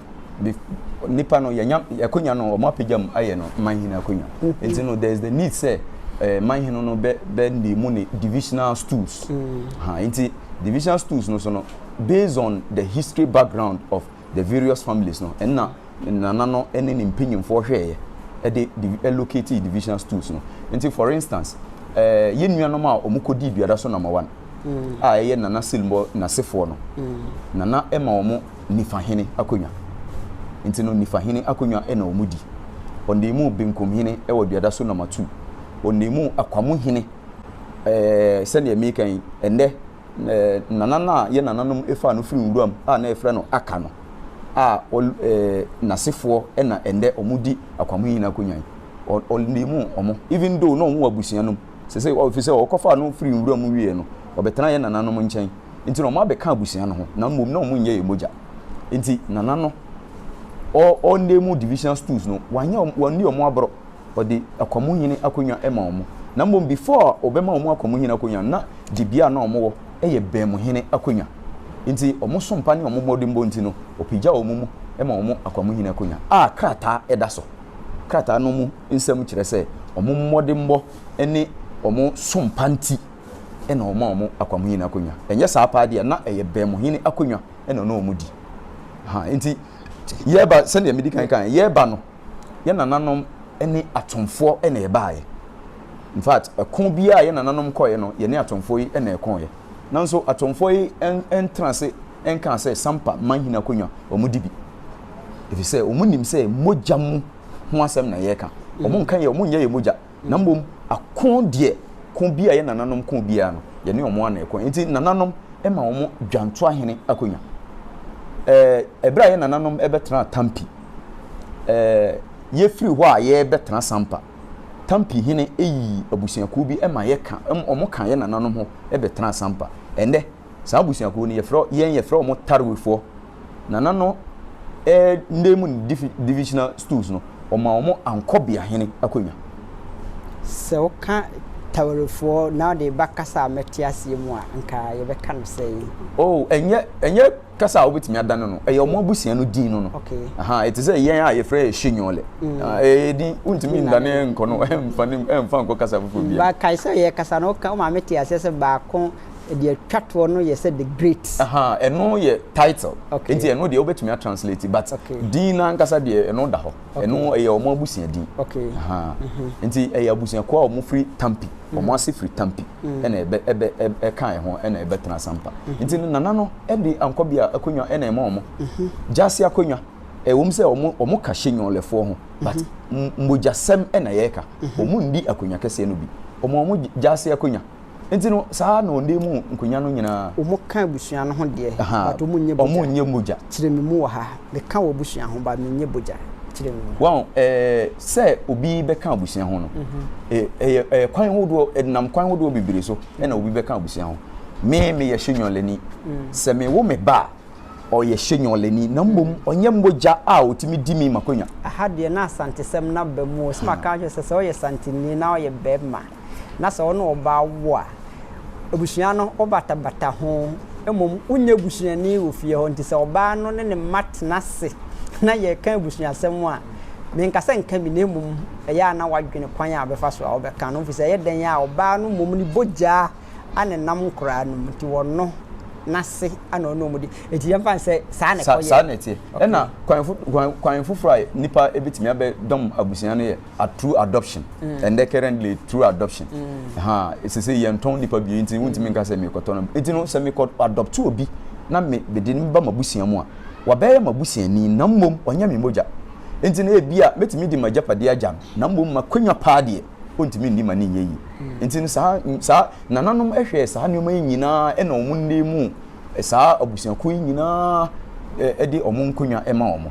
nipa no yɛnya akonya no wɔn apagya mu ayɛ no man hene akonya mm-hmm. nti no there is the need sɛ eh, man hene no bɛ bɛ ne mu ne divisional stools mm. ha nti divisional stools no so no based on the history background of the various families no ɛna ne nana no ne ne mpanyinfoɔ hwɛɛyɛ ɛde divi ɛlocate divisional stools no nti for instance ɛɛ yɛn nuanom a wɔn kɔ di duada so number one mm. a ɛyɛ nana silmɔ nasefoɔ no mm. nana ɛma wɔn nifa hene akonnwa nti no nifa hene akonnwa ɛna wɔn di wɔn de mu benkum hene ɛwɔ duada so number two wɔn de mu akwamo hene ɛɛ sɛdeɛ meka yi ɛnɛ. Nana no a yɛn nananom faa no firii nwuram a na yɛfrɛ no Aka no a ɔl eh n'asefoɔ na ɛnnɛ wɔdi akwamui nyinaa akonnwa yi. Ɔ ɔlnim wɔn even though na wɔwɔ abusua no mu. Seesei ɔ ɛfiri sɛ wɔkɔfaa no firii nwuram wieeɛ no, ɔbɛtenaa yɛn nananom nkyɛn nti na wɔabɛka abusua no ho na mmom na wɔnyɛ yɛn mogya. Nti Nana no ɔ ɔlnim divisional stools no, wanyɛ wɔn wanni wɔn aborɔ. ɔde akwamuhene akonnwa ma wɔn, na mmom before a ɔbɛma wɔn akwamuhene akonnwa no na dibea a na wɔn wɔ yɛ bɛnmuhene akonnwa nti wɔn sompa ne wɔn mmɔdenbɔ nti no ɔpagya wɔn mu ma wɔn akwamuhene akonnwa a krataa da so krataa no mu nsɛm kyerɛ sɛ wɔn mmɔdenbɔ ne wɔn sompa nti na wɔn a wɔn akwamuhene akonnwa ɛnyɛ saa paa deɛ na ɛyɛ bɛnmuhene akonnwa na ɔno wɔn di ha nti yɛba sɛdeɛ medi kan kan yɛba no yɛn nananom ne atomfoɔ na ɛbaeɛ. In fact, ɛko biara a yɛn nananom kɔeɛ no, yɛne atomfoɔ yi na ɛkoeɛ. Nanso atomfoɔ yi ntena ase nkaa sɛ Sampa manhene akonnwa wɔdi bi. Ɛfiri sɛ wɔnim sɛ mogya mu ho asɛm na yɛreka. Wɔn nka yɛ, wɔn nyɛ yɛ mogya. Na mmom ako deɛ, ko bi a yɛn nananom ko biara no, yɛne wɔn na ɛko. Nti nananom ma wɔn dwantoahene akonnwa. Ɛɛ, ɛberɛ a yɛn nananom bɛtenaa Tampi, eh, yɛfiri hɔ a yɛrebɛtena Sampa. Tampi hene yii abusuakuo bi ma yɛka, wɔn ka yɛn nananom ho bɛtenaa Sampa. Ɛnnɛ, saa abusuakuo no, yɛfrɛ, yɛn yɛfrɛ wɔn Tarwefoɔ. Nana no eh, nda mu divisional stools no, wɔmaa wɔn Ankɔbea hene akonnwa. Sɛ woka Tarwefoɔ na wode ba kasa a mɛte aseɛ mu a, anka yɛbɛka no sɛn? Oh, ɛnyɛ, ɛnyɛ. Kasa a wobɛtumi adane no, ɛyɛ wɔn abusua no din no no. Ɛte sɛ yɛn a yɛfrɛ yɛ Shenyole. Mm. Ah, ɛyɛ din, wontumi ndane nkɔ no, ɛmfa ne ɛmfa nkɔ kasa foforɔ bi. Ba kae sɛ yɛ kasa no, woka wo maame te aseɛ sɛ baako deɛ atwa toɔ no yɛ sɛ the great. Ɛno yɛ title. Nti ɛno deɛ wobɛtumi atranslate but din no ankasa deɛ ɛno da hɔ. Ɛno ɛyɛ wɔn abusua din. Mhm. Nti ɛyɛ abusuakuo a wɔfiri Tampi. wɔn mm. ase firi tampi mm. ɛna ɛbɛ ɛbɛ ɛka ɛho ɛna ɛbɛtena sampa mm-hmm. nti no nana no ɛde ankɔ bi a akonnwa ɛna ɛma wɔn mm-hmm. gyaase akonnwa ɛwɔm sɛ wɔn wɔn ka hyɛ nyɔnlɛfoɔ ho but mm-hmm. mmogyasɛm ɛna yɛreka wɔn ndi akonnwa kɛseɛ no bi wɔn wɔn gyaase akonnwa nti no saa na ɔnde mu nkonnwa no nyinaa. wɔn ka abusua no ho deɛ. wɔn nyɛ mogya wɔn nyɛ mogya. kyerɛ mi mu wɔ ha. Me ka w'abusua ho but me nyɛ bogya kyerɛ me mu. Wahu eh, sɛ obi bɛka abusua ho no, eh, ɛyɛ eh, kwan hodoɔ, ɛdenam kwan hodoɔ bebree so ɛna obi bɛka abusua ho. Me, meyɛ Shenyɔlani. Sɛ me wo me ba a, ɔyɛ Shenyɔlani, na mmom ɔnyɛ mogya a ɔtumi di me m'akonwa. Aha deɛ na Asantesɛm no aba mu o, sɛ maka akyerɛ sɛ sɛ ɔyɛ Santini na ɔyɛ bɛɛma. na sɛ ɔne ɔbaa wo a, abusua no wobatabata ho, mmom wonyɛ busuani wɔ fie hɔ. Nti sɛ ɔbaa no ne ne mma tena ase na yɛreka abusuasɛm a, menka sɛ nka bi, na mmom ɛyɛ a na woadwene kwan a wobɛfa so a wobɛka no ho, efisɛ ɛyɛ dɛn a ɔbaa no mmom ne bogyaa a na ɛnam nkoraa no mu nti wɔno n'ase a na ɔne wɔn di. Enti yɛmfa no sɛ saa na ɛkɔyɛ. Saa na ɛteɛ. Ɛna kwan kwan kwan foforɔ a nipa ebetumi abɛdɔm abusua no yɛ. a through adoption mm. and then currently through adoption mm. ha ɛsɛ sɛ yɛntɔn nipa bie nti wontumi mm. nka sɛ mekɔtɔ no nti no sɛ mekɔ adopt obi na mede no ba mabusua mu a wabɛyɛ mabusuani na mmom ɔnyɛ me mogya nti no ebi a mɛtumi de magyapade agya no na mmom makwanya paa deɛ ɔntumi nni ma ne nyɛ yi mm. nti no saa saa nananom hwɛɛ saa nneɛma yi nyinaa ɛna wɔn nne mu saa abusuakuo yi nyinaa ɛde wɔn nkonnwa ɛma wɔn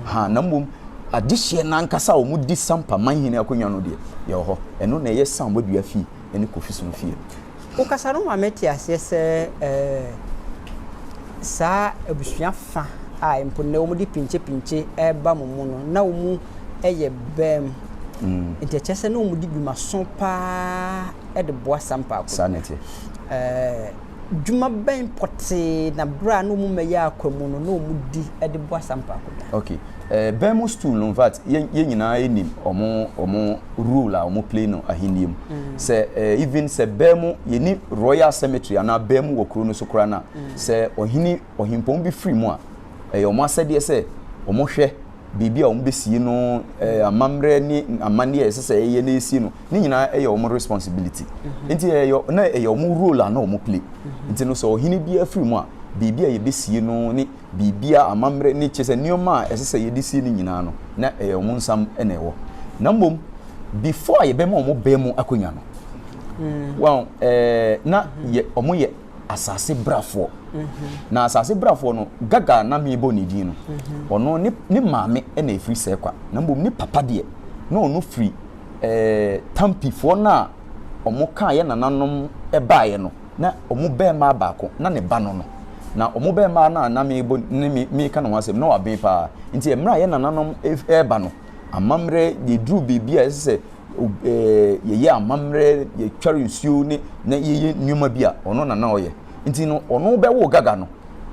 Ahaa, na mmom adehyeɛ no ankasa a wɔdi sampa man hene akonnwa no deɛ, yɛwɔ hɔ. Ɛno na ɛyɛ Sam Boadua fie ne Kofi Sono fie. Wokasa no ma mete aseɛ sɛ saa abusua fa a mpo nnɛ wɔde pinkyepinkye reba mo mu no, na wɔyɛ bam. Nti ɛkyerɛ sɛ na wɔdi dwumaso paa de boa Sampa akonnwa. Saa na ɛteɛ. Dwuma bɛn pɔtee na bere a na wɔn mma yɛ akwa mu no na wɔdi de boa saa mpakoda? Ok, eh, bɛn mo stool no infact yɛn yɛn nyinaa yɛ nim ɔmo ɔmo role a ɔmo play no ahenni mu. Mm. Sɛ eh, even sɛ bɛn mo yɛ ni royal cemetery anaa bɛn mo wɔ kuro no so koraa na mm. sɛ ɔhene ɔhempɔn bi firi mu a, ɛyɛ ɔmo asɛdeɛ sɛ ɔmo hwɛ baabi a wɔbɛsie no, eh, amammerɛ ne amanneɛ a ɛsɛ sɛ ɛyɛ na ɛsie no, ne nyinaa ɛyɛ wɔn responsibility. Mhm. Nti ɛyɛ, na ɛyɛ wɔn role a na wɔn play. Mhm. Nti no sɛ ɔhene biara firi mu a, biribi a yɛbɛsie no ne biribi a amammerɛ ne kyɛ sɛ nneɛma a ɛsɛ sɛ yɛde sie no nyinaa no, na ɛyɛ wɔn nsam na ɛwɔ. Na mmom, before a yɛbɛma wɔn bɛn mu akonnwa no, mm. wɔn, eh, na yɛ, wɔn yɛ asase brafoɔ na asase brafoɔ no gaga na mebɔ ne din no mhm. ɔno ne ne maame na efiri sɛ kwa na mbom ne papa deɛ na ɔno firi ɛɛ eh, tampifoɔ no a wɔn kaa yɛ nananom baeɛ no na wɔn bɛrima baako na ne ba no no na wɔn bɛrima no a na mebɔ ne me meka ne ho asɛm na waben paa nti mmerɛ a yɛ nananom ɛreba no amammerɛ yɛduru biribi a ɛsɛ sɛ ob ɛɛ yɛyɛ amammerɛ, yɛtware nsuo ne na yɛyɛ nneɛma bi a, ɔno na na ɔyɛ. Nti no, ɔno bɛwoo Gaga no,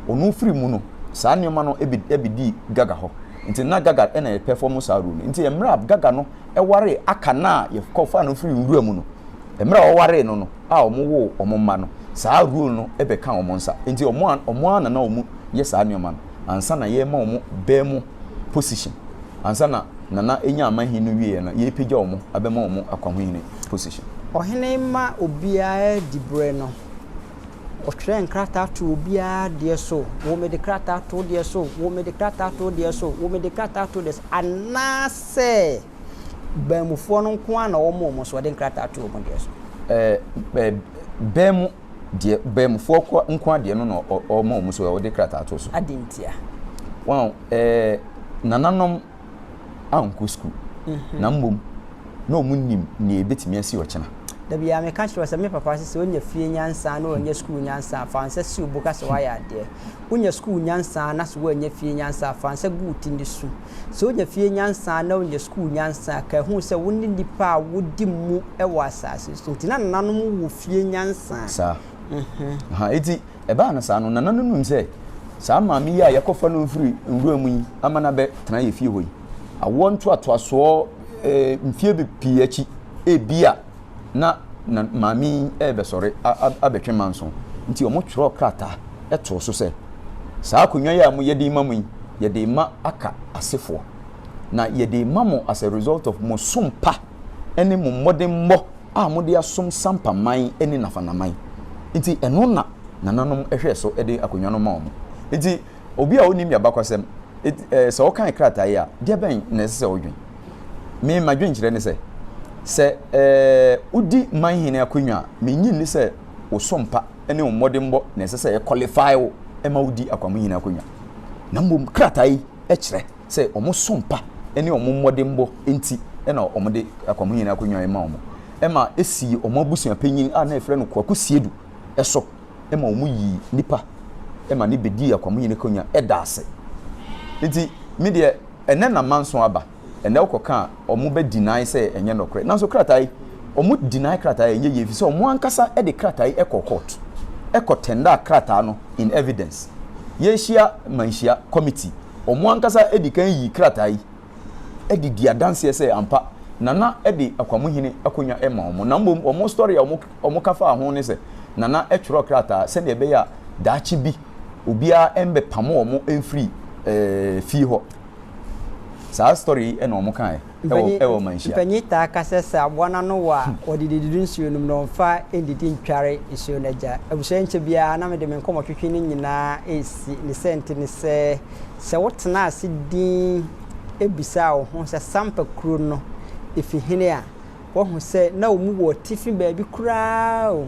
ɔno firi mu no, saa nneɛma no bɛ bɛdii Gaga hɔ. Nti na Gaga na ɛrepɛfɔmo saa role no. Nti mmerɛ a Gaga no waree Aka no a yɛkɔfaa no firii nwura mu no, mmerɛ a ɔwaree no no a wɔwoo wɔn mma no, saa role no bɛkaa wɔn nsa. Nti wɔn a wɔn ara na na wɔyɛ saa nneɛma no ansa na yɛrema wɔn bɛ mu. position ansa na Nana enya amanhen no wieɛ no yɛɛpagya ɔmo abɛma ɔmo akwahohene position. Ɔhene ma obiara di berɛ no, ɔtwerɛ nkrataa to obiara deɛ so, wo mede krataa to wo deɛ so, wo mede krataa to wo deɛ so, wo mede krataa to wo deɛ so, anaasɛ baamufoɔ no nko ara na wɔma wɔn so, ɔde nkrataa to wɔn deɛ so. Ɛɛ, ɛɛ, baamu Deɛ baamufɔɔ kɔ nkoa deɛ no na ɔma wɔn so ɛ, ɔde krataa to so. Adɛn ntia? Wɔn a ɛ, nananom ankɔ sukuu, na mmom na wɔn nnim nea ɛbɛtumi asi ɔkyena. Da biara meka kyerɛ wo sɛ, me papa se sɛ wonya fie nyansa na woannya sukuu nyansa a, fa nsa si wo bo ka sɛ woayɛ adeɛ. Wonya sukuu nyansa na so woannya fie nyansa a, fa nsa gu wo ti ne su. Sɛ wonya fie nyansa na wonya sukuu nyansa a, ka hu sɛ wo ne nnipa a wodi mu wɔ asase so nti. Ná nananom wɔ fie nyansa. Saa. Aha, enti ɛbaa no saa no, nana no nim sɛ saa maame yi a yɛakɔfa no afiri nwura mu yi ama no abɛtena yɛn fie hɔ yi, awoɔ ntoatoasoɔ mfeɛ pii akyi, ebia na na maame yi rebɛsɔre abɛtwe manso, nti wɔtwerɛɛ krataa too so sɛ, Saa akonnwa yi a moyɛ de rema mu yi, yɛde rema Aka asefoɔ. Na yɛde rema mo as a result of mo som pa ne mo mmɔdemmɔ a mode asom Sampa man ne Nafana man. Nti ɛno na nananom hwɛɛ so de akonnwa no maa wɔn. Nti. Obi a onnim y'abakɔsɛm, enti eh, sɛ ɔkan krataa yi a, deɛ bɛn na ɛsɛ sɛ ɔdwen? Me, m'adwenkyerɛ ne sɛ, sɛ eh, wodi manhene akonnwa a, mennye nni sɛ wo so mpa ne wo mmɔdenbɔ na ɛsɛ sɛ ɛkɔlifai wo ma wodi akwamohene akonnwa, na mmom krataa yi kyerɛ sɛ wɔn so mpa ne wɔn mmɔdenbɔ nti na wɔde akwamohene akonnwa yi ma wɔn, ma esii wɔn abusuapanyin a na yɛfrɛ no Kwaku Siedu. so ma wɔyii nnipa ma no bɛdii akwamuyini akonnwa da ase. Nti me deɛ ɛnnɛ na manso aba, ɛnnɛ wokɔka a wɔn bɛ deny sɛ ɛnyɛ nɔkorɛ. Nanso krataa yi, wɔn deny krataa yi ɛnyɛ yie ɛfiri sɛ wɔn ankasa de krataa yi kɔɔ court, kɔ tendered krataa no in evidence. Yɛahyia manhyia committee, wɔn ankasa dikan yii krataa yi. de di adanseɛ sɛ ampa Nana de Akwamuhene akonnwa ma wɔn, na mmom wɔn story a wɔka faa ho ne sɛ Nana twerɛɛ krataa sɛdeɛ ɛbɛyɛ a daakye bi obiara mmɛpamo wɔn mfiri fie hɔ. Saa story yi na wɔn kaeɛ wɔ manhyia. Mpanyin taa ka sɛ sɛ aboa no ano wɔ a, wɔde dididi nsuo no mu na wɔmfa nnidi ntware nsuo no agya. Abusua yi nkyɛ biara na mede me nkɔmmɔtwetwe no nyinaa resi. Ne sɛnti ne sɛ, Sɛ wotenaa ase dinn bisaa wo ho sɛ Sampa kuro no fi hene a, woahu sɛ na wɔn mu wɔ atifi baabi koraa o,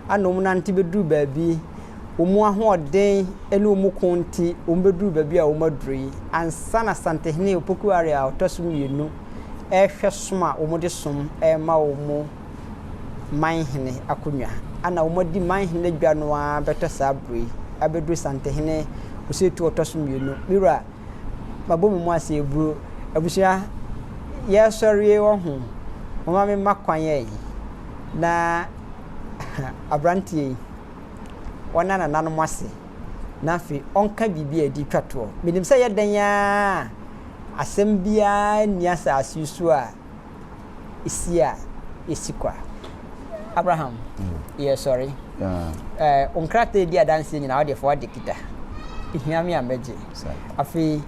ana wɔn nante bɛduru baabi, wɔn ahoɔden ne wɔn ko nti wɔbɛduru baabi a wɔaduru yi, ansa na Asantehene Opoku Ware a ɔtɔ so mmienu rehwɛ som a wɔde som rema wɔn manhene akonnwa. Ana wɔadi manhene adwa no ara bɛtɔ saa bere yi abɛduru Santehene Osetu ɔtɔ so mmienu. Me wura, mabɔ me mu ase aburo. Abusua, yɛresɔre wɔ ho. Momma me mma kwan ɛ. Na aberanteɛ yi, ɔnna nananom ase na afei ɔnka biribi a ɛde twa toɔ. Menim sɛ ɛyɛ dɛn ara a, asɛm biara nni asase yi so a si a yɛsi kwa. Abraham, yɛ sɔre. Wo nkrataa edi adanseɛ nyinaa wode fa wade kita. Ehia me a mɛgye. Afei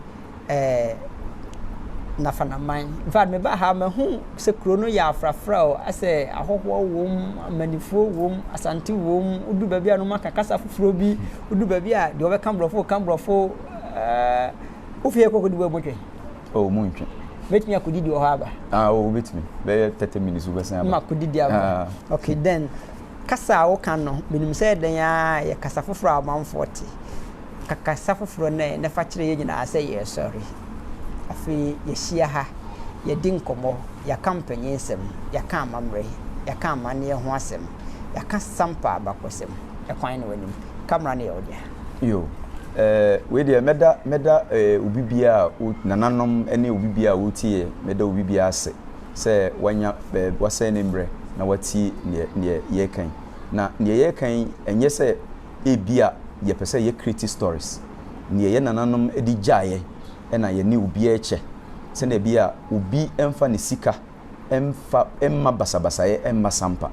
Nafanaman. In fact, meba ha mahu sɛ kuro no yɛ afrafra o, asɛ ahɔhoɔ wom, amanifoɔ wom, asante wom, wodu baabi a no maka kasa foforɔ bi, wodu baabi a deɛ wɔbɛka borɔfo ka borɔfo. Uh, Wo fie kɔkɔdi bɔ botwe. Oh, mu ntwe. Mɛtumi akɔdidi wɔ hɔ aba. Ah, oh, wobɛtumi. Bɛyɛ 30 minutes wobɛsan aba. Ma kɔdidi aba. Ah. Okay, then kasa a woka no, menim sɛ ɛdɛn ara yɛ kasa foforɔ a amanfoɔ te. Ka kasa foforɔ no ɛ na fa kyerɛ yɛn nyinaa sɛ yɛresɔre. Afei yɛahyia ha, yɛadi nkɔmmɔ, yɛaka mpanin nsɛm, yɛaka amammerɛ, yɛaka amanneɛ ho asɛm, yɛaka Sampa abakɔsɛm. Ɛkwan no w'anim. camera no yɛ wo dea. Yoo eh wei deɛ mɛda mɛda eh obi biaa a o nananom ɛne obi biaa a ɔretie mɛda obi biaa ase sɛ wanya eh wasɛn ne mbrɛ na watie neɛ neɛ yɛreka yi na neɛ yɛreka yi ɛnyɛ sɛ ebia yɛpɛ sɛ yɛ create stories neɛ yɛ nananom de gyaeɛ ɛna yɛne obiaa kyɛ sɛdeɛ ɛbɛyɛ a obi ɛmfa ne sika mfa mma basabasayɛ mma sampa.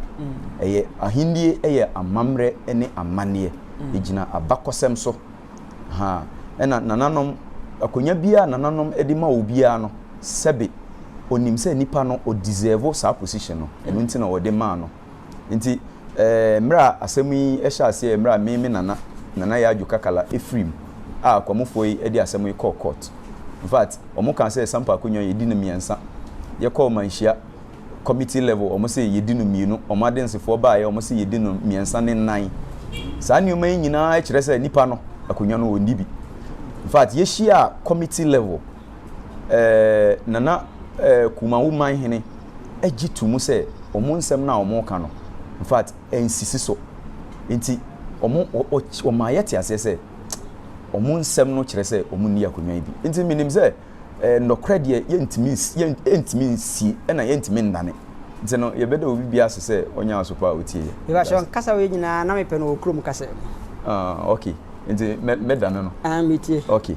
Ɛyɛ Ahenni yɛ amammerɛ ne amanneɛ. Egyina abakɔsɛm so. Ha, ɛna nananom, akonnwa biara a nananom de ma obiara no, sɛbe onim sɛ nipa no ɔ'deserve' saa position no, ɛno nti na wɔde maa no. Nti mmerɛ a asɛm yi hyɛɛ aseɛ, mmerɛ a me me nana, Nana Yaa Adwo Kakala firi mu a Kwamufoɔ yi de asɛm yi kɔɔ court. In fact, wɔn kaa sɛ Sampa Akonnwa yɛdi no mmiɛnsa. Yɛkɔɔ Manhyia committee level, wɔn se yɛdi no mmienu. Wɔn adensefoɔ baeɛ, wɔn se yɛdi no mmiɛnsa ne nnan. Saa nneɛma yi nyinaa kyerɛ sɛ nipa no, akonnwa no, ɔnni bi. In fact, yɛhyiaa committee level. ɛɛ Nana ɛɛ Kumawu man hene gye to mu sɛ wɔn nsɛm no a wɔka no, in fact, ɛnsisi so. Nti wɔn, wɔma yɛte aseɛ sɛ wɔn nsɛm no kyerɛ sɛ wɔn nni akonnwa yi bi. Nti menim sɛ ɛɛ nnɔkorɛ deɛ yɛntumi yɛntumi nsie ɛna yɛntumi nnane. Nti no yɛbɛda obi biara ase sɛ ɔnyɛ asopa a ɔtie yɛ. Mepakyɛ nkasa wei nyinaa na mepɛ no wɔ kurom kasa mu. Ah okay, nti mɛ mɛdane no. Ah metie. Okay.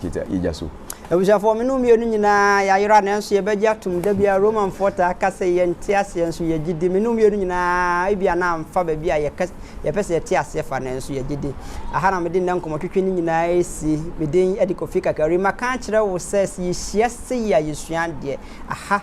Gyigya, gyigya so. Abusuafoɔ, me ne wo mmienu nyinaa yɛayera, nanso yɛbɛgye atom. Da biara Romanfoɔ taa ka sɛ yɛnte aseɛ, nso yɛgye di. Me ne wo mmienu nyinaa, ebia na amfa baabi a yɛka, yɛpɛ sɛ yɛte aseɛ fa, nanso yɛgye di. Aha na mede nnɛ nkɔmmɔtwetwe no nyinaa resi. Me din de Kofi Kakari. Maka akyerɛ wo sɛ, sɛ yɛhyia sei a, yɛsua adeɛ. Aha.